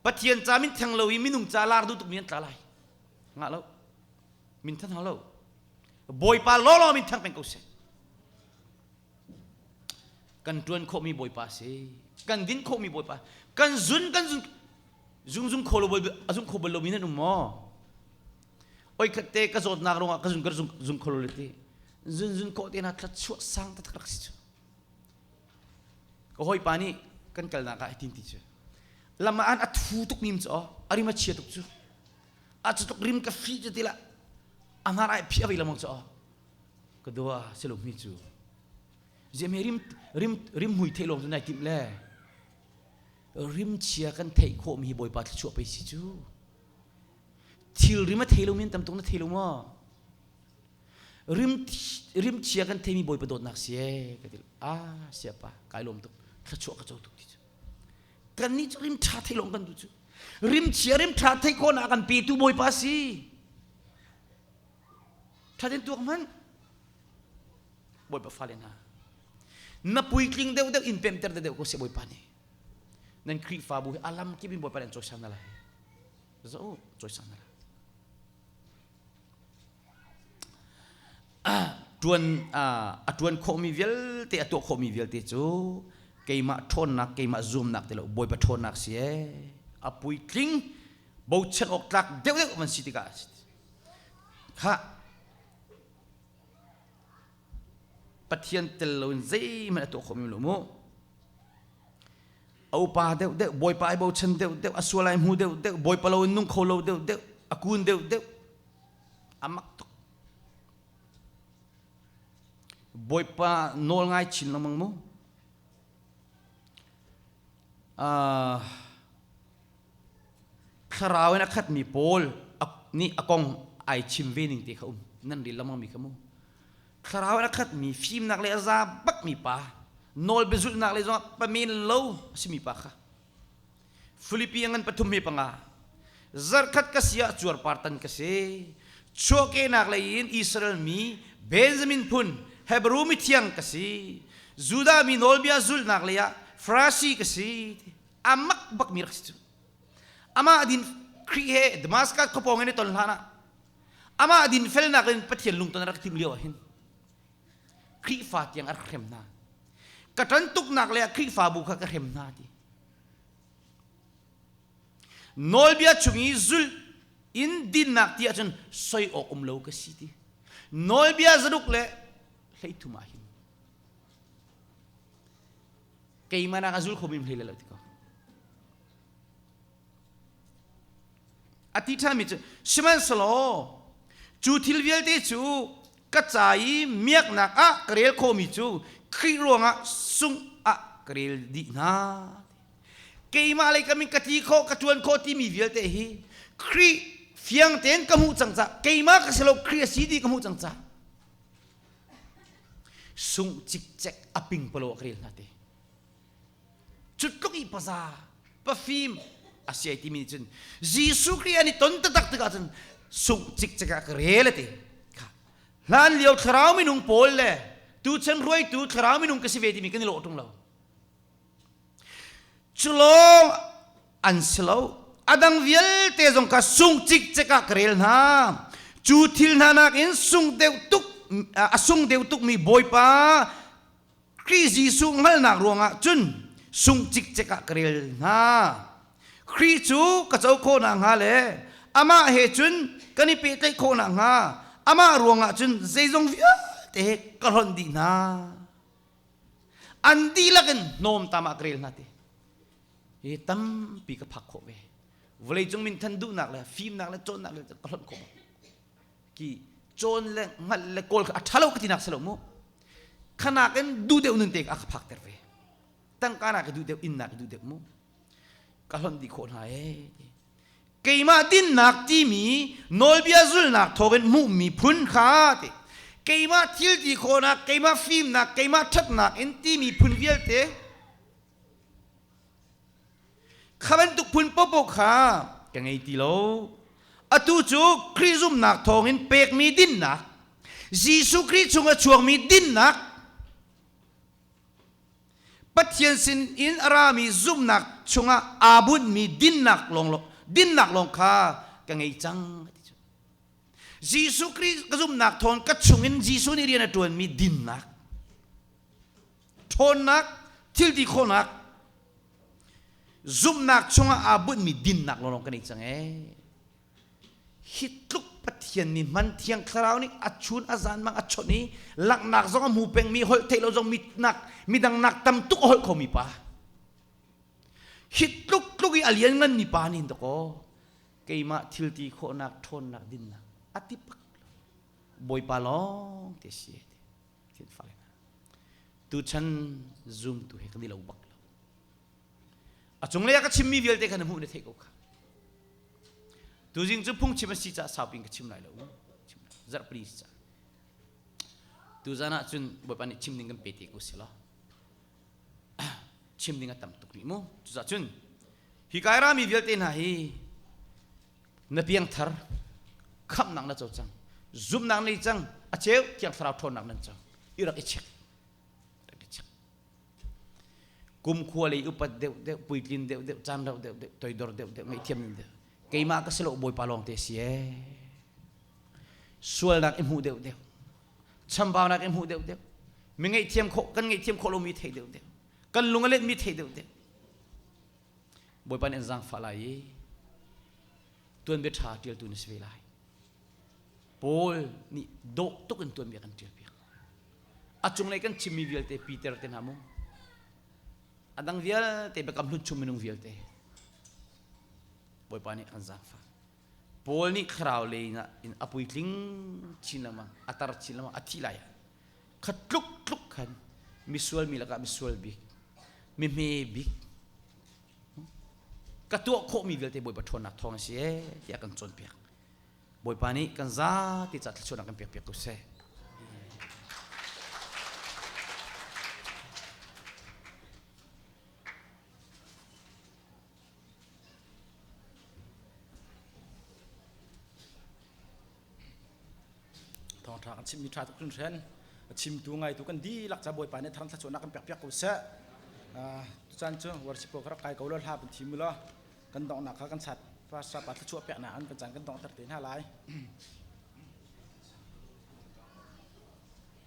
pathian ca min theng lo i minung ca lar duh tukmi an tla lai nga lo min than hau lo bawipa lawlaw min thang peng ko seh kan tuan khawhmi bawipa si kan din khawhmi bawipa kan zun kan zun zung zung kho lo zung kho bal lo mi nan um maw oi khat te ka zawt nak rongah ka zung ka zung zung kho lo le ti zun zun ko te na thlat chuah sang ta thak si chu ka hawipa nih kan kalnak ah hitin ti cu lam ah an a thu tuk nim cu aw a rim a chia tuk cu a cu tuk rim ka hri cu tilah a hnar ah phi a vei lamang cu aw ka dua silommi cu ziame rim rim rim mui theih lawng cu nai tim le rim chia kan theih khawhmi hi bawipa thluachuah pei si cu thil rim a thei lo men tam tuk na thei lo maw rim chia kan theimi bawipa dawtnak si e ka ti ah siapa kai lom tuk thluachuah ka co tuk ti cu kan nih cu rim ṭha thei lom kan tu cu rim chia rim ṭha thei ko na kan petu bawipa si ṭhatin tuak man bawipa fale hna na puitling deuh deuh in pemter deuh ko si bawipa ni nan khrihfabu hi alam kip in bawipa nan choi sang na lai zo choi sang na lai Ṭuan a ṭuan khawhmi vialte, a tuah khawhmi vialte cu keimah ṭhawnnak, keimah zuamnak ti lo, Bawipa ṭhawnnak si ee. A puitling, bochan awk tlak deuhdeuh van si tikah a si. Khah, Pathian tel loin zeihmanh a tuah khawhmi lo mu. A upa deuhdeuh, Bawipa i bochan deuhdeuh, a sual ai hmu deuhdeuh, Bawipa lo in nung kho lo deuhdeuh, a kun deuhdeuh, A mak tuk. Bawipa nawl ngai chin lengmang mu. Uh, thlarau in a khatmi pawl nih a kong ai chim ve ning te kha um nan ril lamang mi ka mu thlarau in a khat mi fimnak le a za bak mi pa nawl bezulnak le zong pa men lo si mi pa kha Filipi ngan pathum hi panga zarkhat ka si ah cuarpar tan ka si chuahkenak lei in Israel mi Benjamin phun Hebrew mi thiang ka si Judah mi nawlbia zulhnak lei ah Farasi ka si amak bak mi rak si cu amah din Khrih he Damascus khawpawng in ton hlan ah amah din felnak in Pathian lungton rak tim lio ah hin Khrihfa tiang a rak hrem hna ka tan tuknak le Khrihfabu kha ka hrem hna ti nawlbia chung i zulh in dinnak ti ahcun soi awk um lo ka si ti nawlbia zaruk le hleithum ah hin keimah nak a zul kho mim hlei lo ti ko a ti ṭhami cu sihmanhselaw cu thil vialte cu ka ca i miaknak ah ka rel khomi cu Khrih ruangah sungh ah ka rel dih hna keimah lei ka min ka ti khawh ka ṭuan khawh timi vialte hi Khrih fiang tein ka hmuh cang ca keimah ka si lo Khrih a si ti ka hmuh cang ca sungh cikcek a ping palo ka rel hna te Cutluk i paza, pafim a siai timi nih cun Jesuh Khrih an i ton taktak tikah cun sungh cikcek ah ka rel ati. Hlan lio thlarau minung pawl le tuchan ruaitu thlarau minung ka si ve timi kan i lawh ṭung lo. Culawng an si lo. Adang vialte zong ka sung cikcek ah ka rel hna. Cu thil hna nakin sung deuh tuk a sung deuh tukmi Bawipa Khrih Jesuh hngalhnak ruangah cun sung cikcek ah ka rel hna. Khrih cu ka co khawh nakhnga le amah he cun kan i pehtlaih khawh nakhnga amah ruangah cun zeizong vialte he ka hlonh dih hna. An dihlak in hnawmtam ah ka rel hna ti. Hi tampi ka phak khawh ve. Vawleicung min than duhnak le fimnak le cawnnak le ka hlonh khawh. ki cawn le ngal le kawl a ṭhalo ka tinak si lo mu khanak in dudeu nun te ka ka phak ter ve tangka na ka dudeu in na ka dudeu mu ka hlon di khawh hna e keimah dinnak timi nawlbia zulnak thawkin hmuhmi phun kha te keimah thil ti khawnak keimah fimnak keimah ṭhatnak in timi phun vialte Kha bantuk phun popo kha ka ngei ti lo. Atu cu Khrih zumnak thawngin pekmi dinnak, Jesuh Khrih chungah chuangmi dinnak, Pathian sinin a rami zumnak chungah aa bunhmi dinnak lawnglawng, dinnak lawng kha ka ngei cang. Jesuh Khrih ka zumnak thawng ka chungin Jesuh nih rian a ṭuanmi dinnak. ṭhawnnak thilti khawhnak zumhnak chungah aa bunhmi dinnak lawnglawng kan i cang ee hi tluk pathian nih hman thiang thlarau nih a chun a zan mang a chawnh i langhnak zong a mu pengmi holh theih lo zong mitnak midangnak tam tuk a holh khomi pa hi tluk tluk i a liannganmi pa nih dakaw keimah thilti khawhnak ṭhawnnak dinnak a ti pak lo bawipa lawng te si Kin fale hna. Tuchan zumtu he kan i lo bak lo. A cunglei ah ka chimmi vialte kha na hmuh na theih ko kha. Tuzing cu phungchim an si caah saupi in ka chim lai lo. Chim lai. Zarh pali si caah. Tuzan ah cun Bawipa nih chim ding kan pe te ko si law. chim ding a tam tuk rih mu. Cuzacun, hi kai rami vialte hna hi na piangthar khamnak na co cang zumnak nei cang a cheu tiang thlarau ṭhawnnak nan cang i rak i check rak i check kumkhua lei upat deuh deuh puitlin deuh deuh caan rauh deuh deuh toidor deuh deuh ngaihthiam ning deuh keimah ka si lo bawipa lawng te si ee sualnak i hmuh deuh deuh chambaunak i hmuh deuh deuh mi ngaihthiam khawh kan ngaihthiam khawh lomi thei deuh deuh kan lung a letmi thei deuh deuh Bawipa nih an zaangfah lai i tuanbia ṭha ṭialtu na si ve lai. Paul nih dawh tuk in tuanbia kan ṭialpiak. A cunglei kan chimmi vialte Peter te hna mu. A dang vialte biakam hlun chung minung vialte Bawipa nih an zaangfah. Paul nih thlarau leng ah in a puitling chin lengmang a tar chin lengmang a thih lai khat tluk tluk khan misual mi lakah misual bik mehme bik ka tuah khawhmi vialte Bawipa ṭhawnnak thawng a si e tiah kan cawnpiak Bawipa nih kan za ti ca thluachuahnak kan pekpiak ko seh thawngṭha kan chimmi ṭha tuk hringhran a chimtu ngaitu kan dihlak ca bawipa nih thangthla cuahnak kan pekpiak ko seh tucaan cu worship ko ka rak kai ko lo hla kan thi mu law kan donghnak kha kan sat pastor pa thluachuah peknak an kan caan kan dongter te hna lai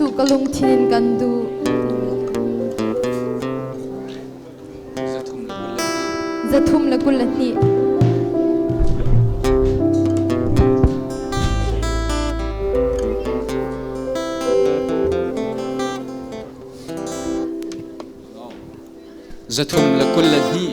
Jesuh ka lungthin in kan duh. Zathum le kul a hnih. Zathum le kul le hnih.